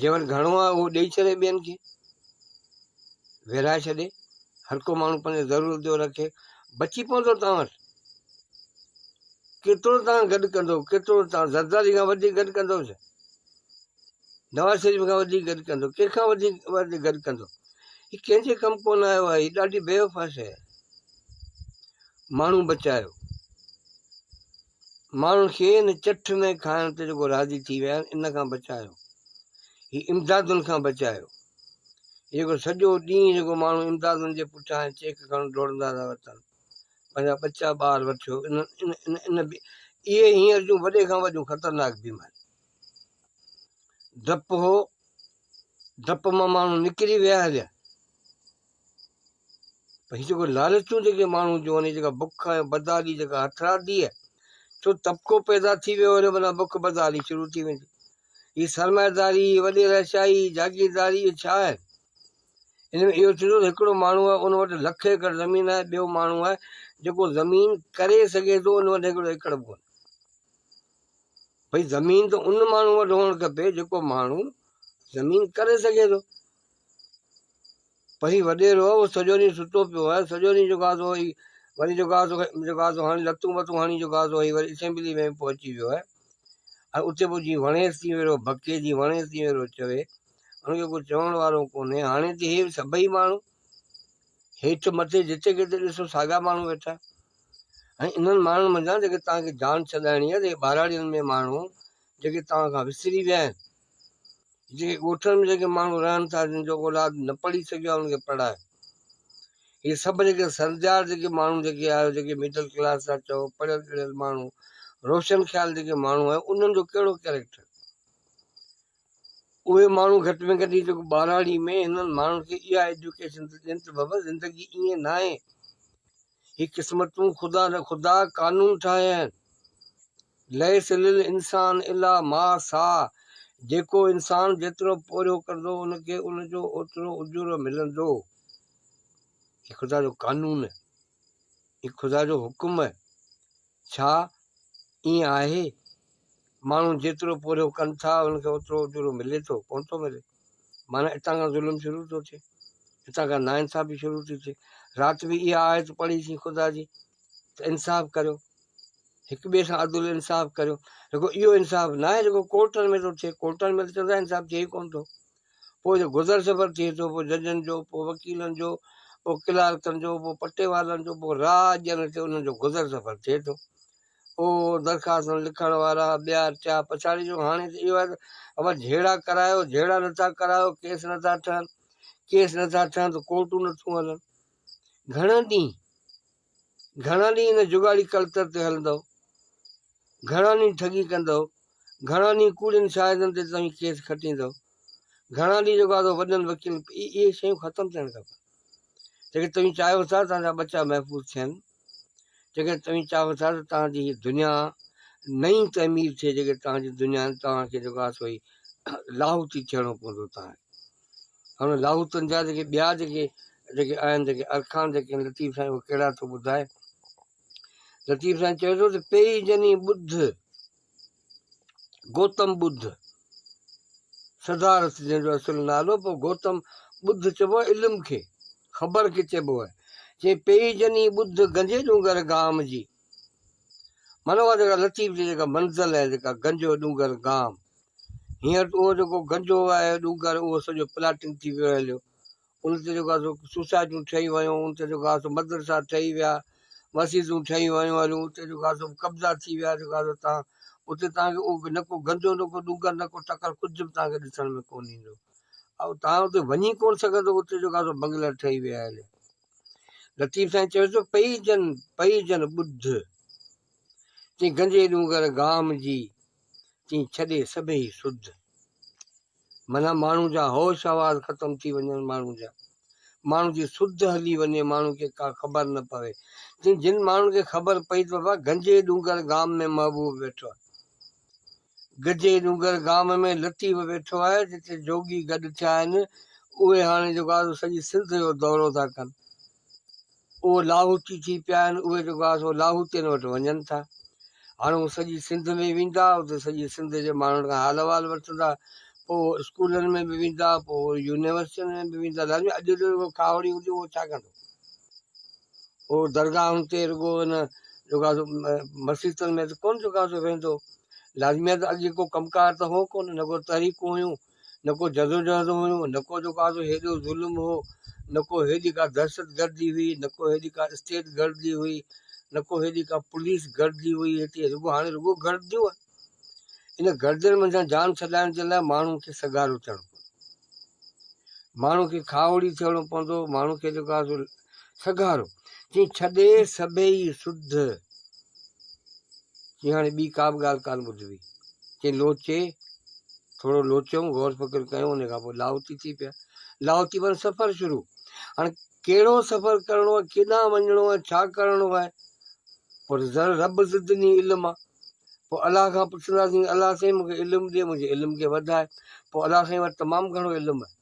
جنهن وٽ گهڻو آهي اهو ڏئي ڇڏي ٻين کي ويرائي ڇڏي هر ڪو ماڻهو پنهنجي ضرورت جو رکي بچي پوندو توهان وٽ ڪيترو توهان گڏ ڪندو ڪيترو توهان زرداري کان وڌيڪ گڏ ڪندو ڇا نواز شريف کان وڌيڪ گڏ ڪندو ڪنهن کان وڌيڪ گڏ ڪندو هي ڪنهن جي ڪم ڪون آيو آهي هي ڏاڍي بيوفا شيء آهي ماڻهو بچايو ماڻهن کي ان چٺ ۾ کائڻ تي جيڪو راضي ٿي ويا آهن ان کان بچايو، هي امدادن کان بچايو. جيڪو سڄو ڏينهن جيڪو ماڻهو امدادن جي پٺيان ۽ چيڪ کڻڻ ڊوڙندا رهيا اٿن، پنهنجا ٻچا ٻار وٺيو، ان ان اهي هينئر جون وڏي کان وڏيون خطرناڪ بيماريون. ڊپ هو، ڊپ مان ماڻهو نڪري ويا هليا. پر هي جيڪو لالچون جيڪي ماڻهو جون آهن جيڪا بک ۽ بدحالي جيڪا هٿرادي آهي ڇو طبقو پيدا ٿي ويو وري منا بک بدحالي شروع ٿي ويندي هي سرمائيداري وڏي رهشاهي جاگيرداري اهي ڇا آهن ان ۾ اهو ٿيندو ته هڪڙو ماڻهو آهي ان وٽ لک ايڪڙ زمين آهي ٻيو ماڻهو آهي جيڪو زمين ڪري سگهي ٿو ان وٽ هڪڙو ايڪڙ به ڪونهي ڀئي زمين ته ان ماڻهو وٽ هئڻ کپي جيڪو ماڻهو زمين ڪري سگهي ٿو پئي وڏيرو هو سڄو ڏينهن ستو پيو هو سڄو ڏينهن جوڳا ٿو هئي وري جوڳا ٿو جوڳا ٿو هاڻي لتون وتون هاڻي جوڳا ٿو هئي وري اسيمبلي ۾ پهچي ويو هي ۽ اتي پوء جي وڻيس تي ويرو بڪي جي وڻيس تي ويرو چوي ان کي ڪو چوڻ وارو ڪونهي هاڻي تي هي سڀئي ماڻهو هيٺ مٿي جتي ڪٿي ڏسو ساڳا ماڻهو ويٺا ۽ انهن ماڻهن منجهان جيڪي تان کي جان ڇڏائڻي آهي ته ٻهراڙين ۾ ماڻهو جيڪي تان کان وسري ويا آهن جيڪي ڳوٺن ۾ جيڪي ماڻهو رهن ٿا جن جو اولاد نه پڙهي سگهيو آهي ان کي پڙهائي هي سڀ جيڪي سرجار جيڪي ماڻهو جيڪي آهيو جيڪي مڊل ڪلاس ٿا چئو پڙهيل ڳڙهيل ماڻهو روشن خيال جيڪي ماڻهو آهيو انهن جو ڪهڙو ڪيريڪٽر اهي ماڻهو گهٽ ۾ گهٽ جيڪو ٻهراڙي ۾ هنن ماڻهن کي اها ايجوڪيشن ته ڏين ته بابا زندگي ائين ناهي هي قسمتون خدا نه خدا قانون ٺاهيا آهن. ليس للانسان الا ما سعٰي جيڪو انسان جيترو پورهيو ڪندو ان کي ان جو اوترو اجورو ملندو. هي خدا جو قانون آهي. هي خدا جو حڪم آهي. ڇا ائين آهي؟ ماڻهو جيترو پورهيو ڪن ٿا انهن کي اوترو اجورو ملي ٿو ڪونه ٿو ملي معنيٰ اتان کان ظلم شروع ٿو ٿئي اتان کان ناانصافي شروع ٿي ٿئي رات به اها آيت پڙهي سين خدا جي ته انصاف ڪريو هڪ ٻئي سان عدل انصاف ڪريو رڳو اهو انصاف نه آهي رڳو ڪورٽن ۾ ٿو ٿئي ڪورٽن ۾ ته چوندا انصاف ٿئي ڪونه ٿو پوء جو گذر سفر ٿئي ٿو، پوء ججن جو، پوء وڪيلن جو، پوء ڪلارڪن جو، پوء پٽي وارن جو، پوء راء ڏيڻ تي انهن جو گذر سفر ٿئي ٿو. او درخواستن لکڻ وارا، ٻيار ٿيا، پڇاڙي جو هاڻي ته اهو آهي ته اول جهيڙا ڪرايو، جهيڙا نه ٿا ڪرايو، ڪيس نه ٿا ٺهن، ڪيس نه ٿا ٺهن ته ڪورٽون نه ٿيون هلن. گهڻا ڏينهن. گهڻا ڏينهن ان جگاڙي ڪلتر تي هلندؤ؟ گهڻا ڏينهن ٺڳي ڪندؤ؟ گهڻا ڏينهن ڪوڙين شاهدن تي توهين ڪيس کٽيندؤ؟ گهڻا ڏينهن جيڪو آڌو وڏن وڪيلن اهي شيون ختم ٿيڻ کپن. جيڪڏهن توهين چاهيو ٿا ته تهان جا ٻچا محفوظ ٿين، جيڪڏهن توهين چاهيو ٿا ته تهان جي هي دنيا نئين تعمير ٿئي، جيڪڏهن تهان جي دنيا توهان کي جيڪو آهي سو هي لاهوتي ٿيڻو پوندو تهان کي. هن لاهوتن جا جيڪي ٻيا جيڪي جيڪي آهن جيڪي ارڪان جيڪي آهن لطيف سائين اهي ڪهڙا ٿو ٻڌائي لطيف سائين چوي ٿو ته پيئي جني ٻڌ گوتم ٻڌ سدارٿ جنهن جو اصل نالو پوء گوتم ٻڌ چئبو آهي علم کي خبر کي چئبو آهي چي پيئي جني ٻڌ گنجي ڏونگر گام جي مانو جيڪا لطيف جي جيڪا منزل آهي جيڪا گنجو ڏونگر گام هينئر ته اهو جيڪو گنجو آهي ڏونگر اهو سڄو پلاٽنگ ٿي ويو هليو ان تي جيڪو آهي سو سوسائٽيون ٺهي ويون ان تي جيڪو آهي سو مدرسا ٺهي ويا مسجدون ٺهي ويون هليون اتي جيڪو آهي سو قبضا ٿي ويا جيڪو آهي سو تان اتي تان کي اهو نه ڪو گنجو نه ڪو ڏونگر نه ڪو ٽڪر ڪجهه به تان کي ڏسڻ ۾ ڪون ايندو ۽ تان اتي وڃي ڪون سگهندو اتي جيڪو آهي سو بنگلا ٺهي ويا هليا لطيف سائين چيو ٿو پئي جن پئي جن ٻڌ چي گنجي ڏونگر گام جي تيئن ڇڏي سڀيئي سڌ. معنيٰ ماڻهو جا هوش حواس ختم ٿي وڃن ماڻهو جا ماڻهو جي سڌ هلي وڃي ماڻهو کي ڪا خبر نه پوي تيئن جن ماڻهن کي خبر پئي ته بابا گنجي ڏونگر گام ۾ محبوب ويٺو آهي گجي ڏونگر گام ۾ لطيف ويٺو آهي جتي جوڳي گڏ ٿيا آهن اهي هاڻي جيڪو آهي سو سڄي سنڌ جو دورو ٿا ڪن اهي لاهوتي ٿي پيا آهن اهي جيڪو آهي سو لاهوتين وٽ وڃن ٿا هاڻ هو سڄي سنڌ ۾ ويندا اتي سڄي سنڌ جي ماڻهن کان حال احوال وٺندا پوء هو اسڪولن ۾ به ويندا پوء هو يونيورسٽين ۾ به ويندا لاجمي اڄ جو جيڪو کاهوڙي هجي اهو ڇا ڪندو هو درگاهن تي رڳو ان جيڪو آهي سو مسيتن ۾ ته ڪونه جيڪو آهي سو ويندو لازمي آهي ته اڳ جيڪو ڪم ڪار ته هو ڪونه نه ڪو تحريڪون هيون نه ڪو جدوجهد هيون، نه ڪو جو ڪا هيڏو ظلم هو، نه ڪو هيڏي ڪا دهشت گردي هئي، نه ڪو هيڏي ڪا اسٽيٽ گردي هئي، نه ڪو هيڏي ڪا پوليس گردي هئي هتي، رڳو هاڻي رڳو گرديون آهن. ان گردين منجهان جان ڇڏائڻ جي لاء ماڻهن کي سگهارو ٿيڻو پوندو، ماڻهن کي کاهوڙي ٿيڻو پوندو، ماڻهن کي جو ڪا سگهارو چئي ڇڏي سڀيئي سڌ چي هاڻي ٻي ڪا به ڳالهه ڪانه ٻڌبي. چي لوچي، ٿورو لوچيون، غور فڪر ڪيون، ان کان پوء لاهوتي ٿي پيا. لاهوتي مان سفر شروع. هاڻي ڪهڙو سفر ڪرڻو آهي، ڪيڏانهن وڃڻو آهي، ڇا ڪرڻو آهي، پوء ته ذر رب زدني علما. پوء الله کان پڇنداسين، الله سائين مون کي علم ڏي، منهنجي علم کي وڌاء. پوء الله سائين وٽ تمام گهڻو علم آهي.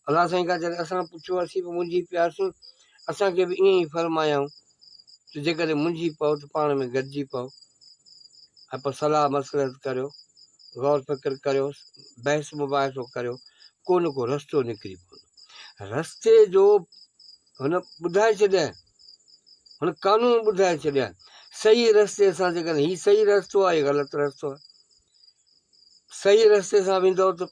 الله سائين کان جڏهن اسان پڇيو اسين به منجهي پياسين، اسان کي به ائين ئي فرمايائون ته جيڪڏهن منجهي پئو ته پاڻ ۾ گڏجي پئو ۽ پوء صلاح مصلحت ڪريو، غور فڪر ڪريو، بحث مباحثو ڪريو، ڪو نه ڪو رستو نڪري پوندو. رستي جو هن ٻڌائي ڇڏيائين، هن قانون ٻڌائي ڇڏيائين، صحيح رستي سان جيڪڏهن هي صحيح رستو آهي، هي غلط رستو آهي. صحيح رستي سان ويندؤ ته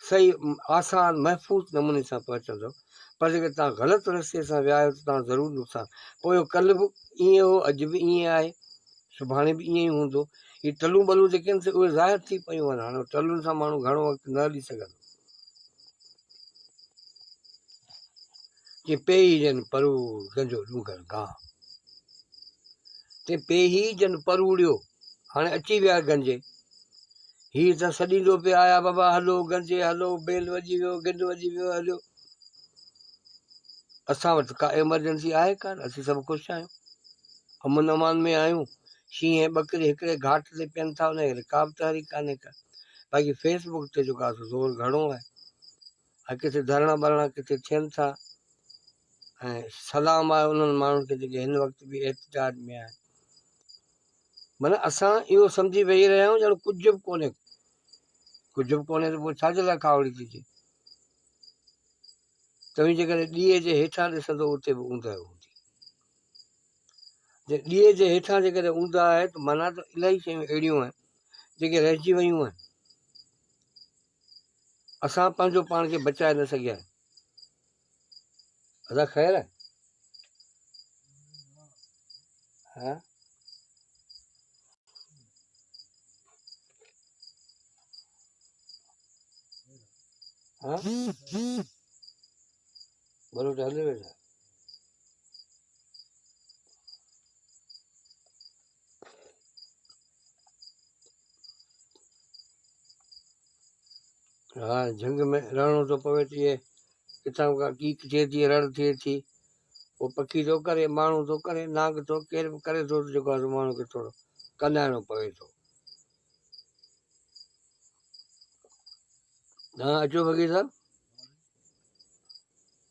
صحيح آسان محفوظ نموني سان پهچندؤ پر جيڪڏهن توهان غلط رستي سان ويا آهيو ته توهان ضرور نقصان پويو ڪل به ائين هو اڄ به ائين آهي سڀاڻي به ائين ئي هوندو هي ٽلون ٻلون جيڪي آهن سي اهي ظاهر ٿي پيون آهن هاڻي ٽلن سان ماڻهو گهڻو وقت نه هلي سگهندو جي پيهي جن پروڙ گنجو ڏونگر گاهه تي پيهي جن پروڙيو هاڻي اچي ويا گنجي. هي ته سڏيندو پئي آيا بابا هلو گنجي هلو بيل وڄي ويو گنڊ وڄي ويو هليو. اسان وٽ ڪا ايمرجنسي آهي ڪانه اسين سڀ خوش آهيون امن امان ۾ آهيون شينهن ۽ ٻڪري هڪڙي گهاٽ تي پين ٿا انهن کي ڪا به تحريڪ ڪانهي ڪا باقي فيس بڪ تي جيڪو آسو زور گهڻو آهي. ها ڪٿي ڌرڻا ٻرڻا ڪٿي ٿين ٿا ۽ سلام آهي انهن ماڻهن کي جيڪي هن وقت به احتجاج ۾ آهن معنيٰ اسان اهو سمجهي ويهي رهيا آهيون ڄڻ ڪجهه به ڪونهي ڪجهه به ڪونهي ته پوء ڇا جي لاء کاوڙي ٿي ٿئي توهين جيڪڏهن ڏيئي جي هيٺان ڏسندو اتي به اونداهي هوندي جي ڏيئي جي هيٺان جيڪڏهن اونداهي آهي ته معنيٰ ته الاهي شيون اهڙيون آهن جيڪي رهجي ويون آهن اسان پنهنجو پاڻ کي بچائي نه سگهيا آهيون. ادا خير آهي؟ ها؟ ها؟ بلوچ هلي ويو ڇا؟ ها جهنگ ۾ رهڻو ٿو پوي ٿي ڪٿان ڪا ڪيڪ ٿئي ٿي رڙ ٿئي ٿي ڪو پکي ٿو ڪري ماڻهو ٿو ڪري نانگ ٿو ڪير به ڪري ٿو جيڪو آهي ماڻهو کي ٿورو ڪنائڻو پوي ٿو ها اچو فقير صاحب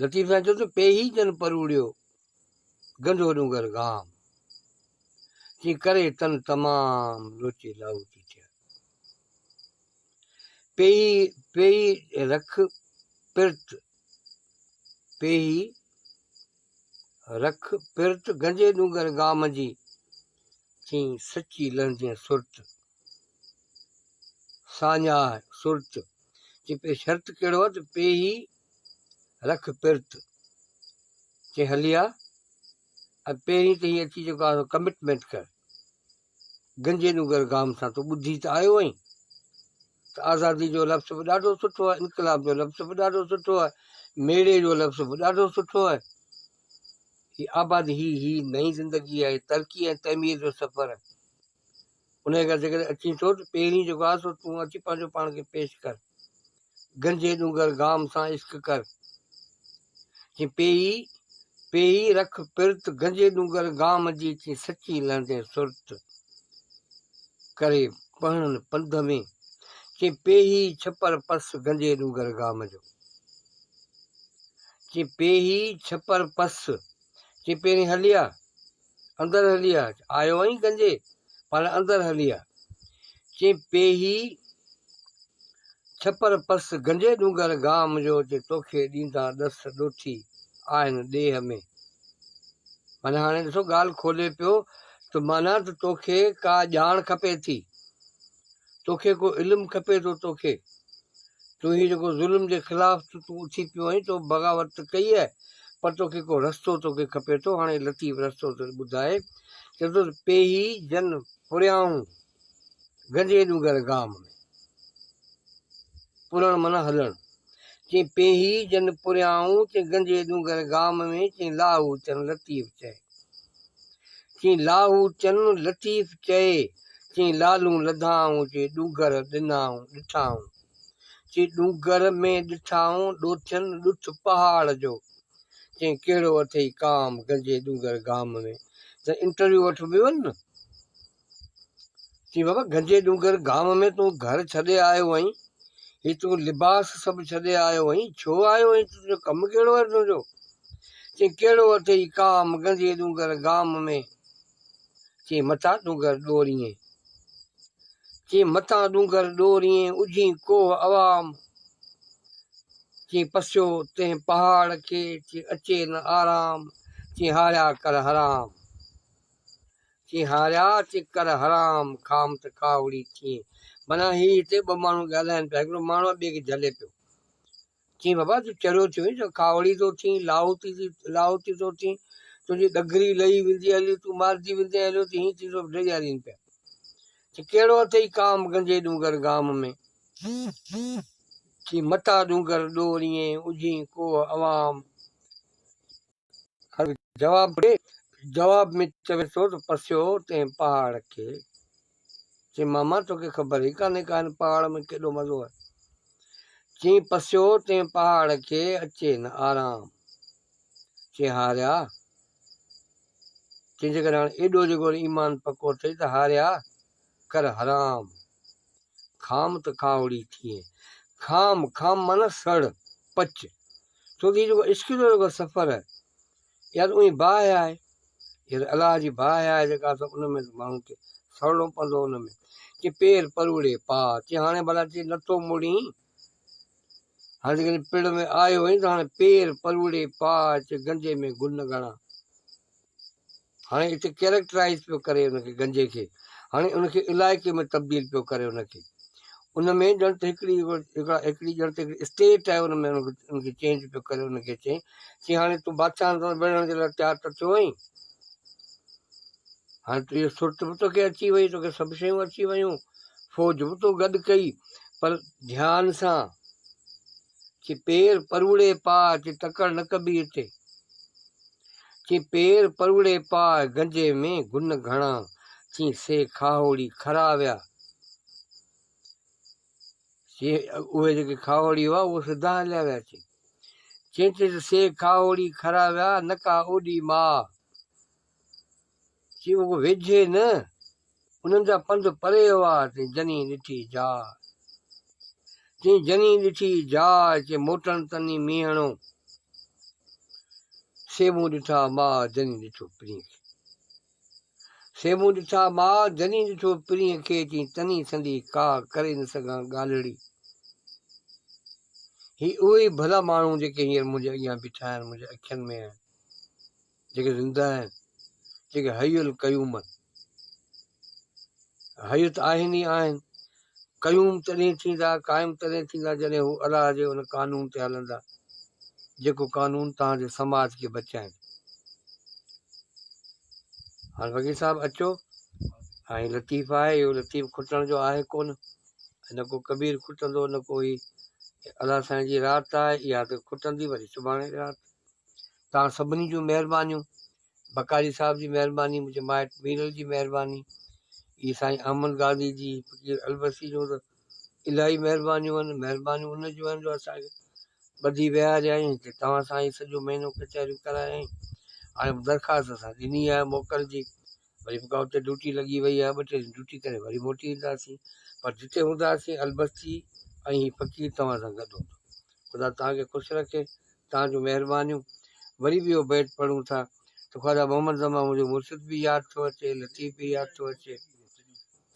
لطيف سائين چيو ته پيهي جن پروڙيو گنڌو ڏونگر گام تي ڪري تن تمام لوچي لاهوتي ٿيا پيهي پيهي رک پرت پيهي رک پرت گنجي ڏونگر گام جي ٿي سچي لهندين سرت ساڃاهه سرت، چي پئي شرط ڪهڙو آ ته پئي هي رک پرت، چي هلي آ ۽ پهرين ته هي اچي جيڪو آ سو ڪمٽمينٽ ڪر، گنجي نوگر گام سان تو ٻڌي ته آيو آهين ته آزادي جو لفظ به ڏاڍو سٺو آهي، انقلاب جو لفظ به ڏاڍو سٺو آهي، ميڙي جو لفظ به ڏاڍو سٺو آهي، هي آبادي هي هي نئين زندگي آهي، ترقي ۽ تعمير جو سفر آهي. انهيء ڪري جيڪڏهن اچين ٿو ته پهرين جيڪو آهي سو تون اچي پنهنجو پاڻ کي پيش ڪر. گنجي ڏونگر گام سان عشق ڪر. چين پيئي، پيئي رک پرت گنجي ڏونگر گام جي چين سچي لهندين سرت ڪري پهڻن پنڌ ۾. چين پيئي ڇپر پس گنجي ڏونگر گام جو. چين پيئي ڇپر پس. چين پهرين هليا اندر هلي آ. آيو آهين گنجي، پاڻ اندر هلي آ. چي پيهي ڇپر پس، گنجي ڏونگر گام جو چي توکي ڏيندان ڏس ڏوٿي آهن ڏيهه ۾. معنيٰ هاڻي ڏسو ڳالهه کولي پيو ته معنيٰ ته توکي ڪا ڄاڻ کپي ٿي. توکي ڪو علم کپي ٿو توکي تون هي جيڪو ظلم جي خلاف تون تون اٿي پيو آهين تو بغاوت ته ڪئي آهي پر توکي ڪو رستو توکي کپي ٿو هاڻي لطيف رستو ته ٻڌائي چي ٿو پيهي جن پريائون گنجي ڏونگر گام ۾ پرڻ معنيٰ هلڻ چين پيهي جن پريائون، چين گنجي ڏونگر گام ۾، چين لاهو چن لطيف چئي. چين لاهو چن لطيف چئي، چين لالون لڌائون، چين ڏونگر ڏنائون ڏٺائون. چين ڏونگر ۾ ڏٺائون، ڏوٿين ڏٺ پهاڙ جو. چين ڪهڙو اٿئي ڪام گنجي ڏونگر گام ۾، ته انٽرويو وٺبيون نه، چي بابا گنجي ڏونگر گام ۾ تون گهر ڇڏي آيو آهين هي تون لباس سڀ ڇڏي آيو آهين ڇو آيو آهين تنهنجو ڪم ڪهڙو آهي تنهنجو چي ڪهڙو اٿئي ڪام گنجي ڏونگر گام ۾ چي مٿا ڏونگر ڏوريين چي متان ڏونگر ڏورين اجھين ڪوه عوام چي پسيو تنهن پهاڙ کي چي اچي نه آرام چي هاڙيا ڪر حرام چيئي هاريا چي ڪر حرام کام ته ڪاوڙي ٿيئي معنيٰ هي هتي ٻه ماڻهو ڳالهائين پيا هڪڙو ماڻهو ٻئي کي جهلي پيو چيئي بابا تون چريو ٿيو آهين جو ڪاوڙي ٿو ٿين لاهوتي ٿي لاهوتي ٿو ٿين تنهنجي ڏگري لهي ويندي هليو تون مارجي ويندي هليو ته هيئن ٿيندو ڊيڄارين پيا چي ڪهڙو اٿئي ڪام گنجي ڏونگر گام ۾ چي متا ڏونگر ڏوريئين اجهين ڪوه عوام جواب ۾ چوي ٿو ته پسيو تنهن پهاڙ کي، چي ماما توکي خبر ئي ڪانهي ڪا هن پهاڙ ۾ ڪيڏو مزو آهي. چي پسيو تنهن پهاڙ کي، اچي نه آرام. چي هاريا، چي جيڪڏهن هاڻي ايڏو جيڪو ايمان پڪو اٿئي ته هاريا ڪر حرام. خام ته ڪاوڙي ٿئين. خام، خام معنيٰ سڙ، پچ. ڇو ته هي جيڪو عشق جو جيڪو سفر آهي، يا ته اوهين باهه آهي، يا ته الله جي باهه آهي جيڪا ته ان ۾ ماڻهو کي سڙڻو پوندو ان ۾. چي پير پروڙي پاء، چي هاڻي ڀلا چي نٿو مڙين. هاڻي جيڪڏهن پڙ ۾ آيو آهين ته هاڻي پير پروڙي پا اچ گنجي ۾ گل نه ڳڻا. هاڻي اتي ڪيريڪٽرائيز پيو ڪري ان کي گنجي کي هاڻي ان کي علائقي ۾ تبديل پيو ڪري ان کي ان ۾ ڄڻ ته هڪڙي هڪڙي ڄڻ ته هڪڙي اسٽيٽ آهي ان ۾ ان کي چينج پيو ڪري ان کي چين چي هاڻي تون بادشاهن سان وڙهڻ جي لاء تيار ته ٿيو آهين هاڻي تنهنجي سرت به توکي اچي وئي، توکي سڀ شيون اچي ويون، فوج به تو گڏ ڪئي، پر ڌيان سان چي پير پروڙي پاء، چي تڪڙ نه ڪبي هتي، چي پير پروڙي پاء، گنجي ۾ گن گهڻا، چي سي کاهوڙي کرا ويا، چي اهي جيڪي کاهوڙي هئا اهي سڌا هليا ويا، چي چي سي کاهوڙي کرا ويا، نڪا اوڏي ماء. سي اڳ ويجهي نه، انهن جا پنڌ پري هئا، تنهن جني ڏٺي جاء. تنهن جني ڏٺي جاء، چي موٽڻ تني مينهڻو. سي مون ڏٺا ماء، جني ڏٺو پرينء کي. سي مون ڏٺا ماء، جني ڏٺو پرينء کي، چي تني سندي ڪا ڪري نه سگهان ڳالهڙي. هي اهي ئي ڀلا ماڻهو، جيڪي هينئر منهنجي اڳيان بيٺا آهن، منهنجي اکين ۾ آهن. جيڪي زنده آهن، جيڪي حي القيوم آهن. حي ته آهن ئي آهن، قيوم تڏهن ٿيندا، قائم تڏهن ٿيندا جڏهن هو الله جي ان قانون تي هلندا، جيڪو قانون توهان جي سماج کي بچائيندو. هاڻ فقير صاحب اچو هاڻي لطيف آهي اهو لطيف کٽڻ جو آهي ڪون نه ڪو ڪبير کٽندو نه ڪو هي الله سائين جي رات آهي اها ته کٽندي وري سڀاڻي رات توهان سڀني جون مهربانيون بقاري صاحب جي مهرباني منهنجي مائٽ ميرل جي مهرباني هي سائين احمد غازي جي فقير البسي جون ته الاهي مهربانيون آهن مهربانيون ان جون آهن جو اسان کي ٻڌي ويهاريائين هتي توهان سان هي سڄو مهينو ڪچهريون ڪرايائين هاڻي به درخواست اسان ڏني آهي موڪل جي وري به ڪا اتي ڊيوٽي لڳي وئي آهي ٻه ٽي ڏينهن ڊيوٽي ڪري وري موٽي اينداسين پر جتي هونداسين البسي ۽ هي فقير توهان سان گڏ هوندو خدا توهان کي خوش رکي توهان جون مهربانيون. وري به اهو بيت پڙهون ٿا ته خواجه محمد زمان منهنجو مرشد به ياد ٿو اچي، لطيف به ياد ٿو اچي.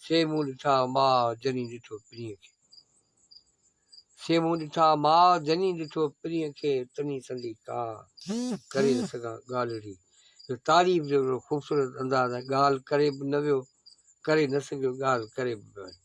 سي مون ڏٺا ماء جني ڏٺو پرينء کي. سي مون ڏٺا ماء جني ڏٺو پرينء کي تني سندي ڪا ڪري نه سگهان ڳالهه اهڙي جو تعريف جو اهڙو خوبصورت انداز ۽ ڳالهه ڪري به نه ويو ڪري نه سگهيو ڳالهه ڪري به نه ويو.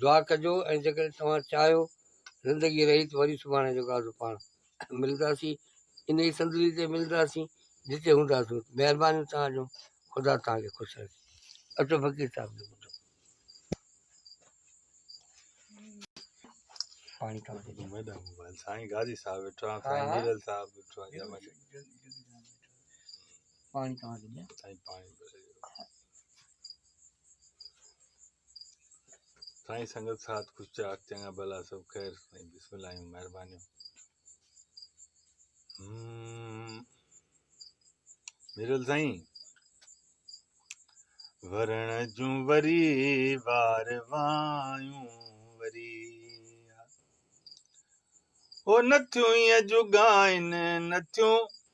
دعا ڪجو ۽ جيڪڏهن توهان چاهيو زندگي رهي ته وري سڀاڻي جو گادو پاڻ ملنداسين انهي صندلي تي ملنداسين جتي هونداسون مهربانيون توهان جون خدا توهان کي خوش رکي اچو فقير صاحب جو ٻڌو پاڻي کان ٻڌو ميڊم موبائل سائين غازي صاحب ويٺو آهي سائين نيرل صاحب ويٺو آهي جمع پاڻي کان ٻڌو سائين پاڻي سائين سنگت ساٿ خوش چاڪ چڱا ڀلا سڀ خير سائين بسم الله جون مهربانيون ميرل سائين ورڻ جون وري وار وايون وري او نٿيون ايئن جوڳائن نٿيون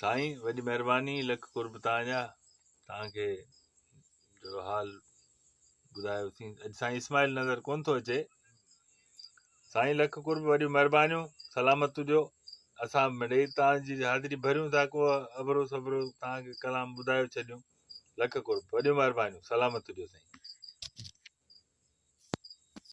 سائين وڏي مهرباني لک قرب تان جا تان کي جو حال ٻڌايو ٿي اڄ سائين اسماعيل نظر ڪون ٿو اچي سائين لک قرب وڏي مهرباني سلامت تجو اسان مڙي تان جي حاضري ڀريون ٿا ڪو ابرو صبرو تان کي ڪلام ٻڌايو ڇڏيون لک قرب وڏي مهرباني سلامت تجو سائين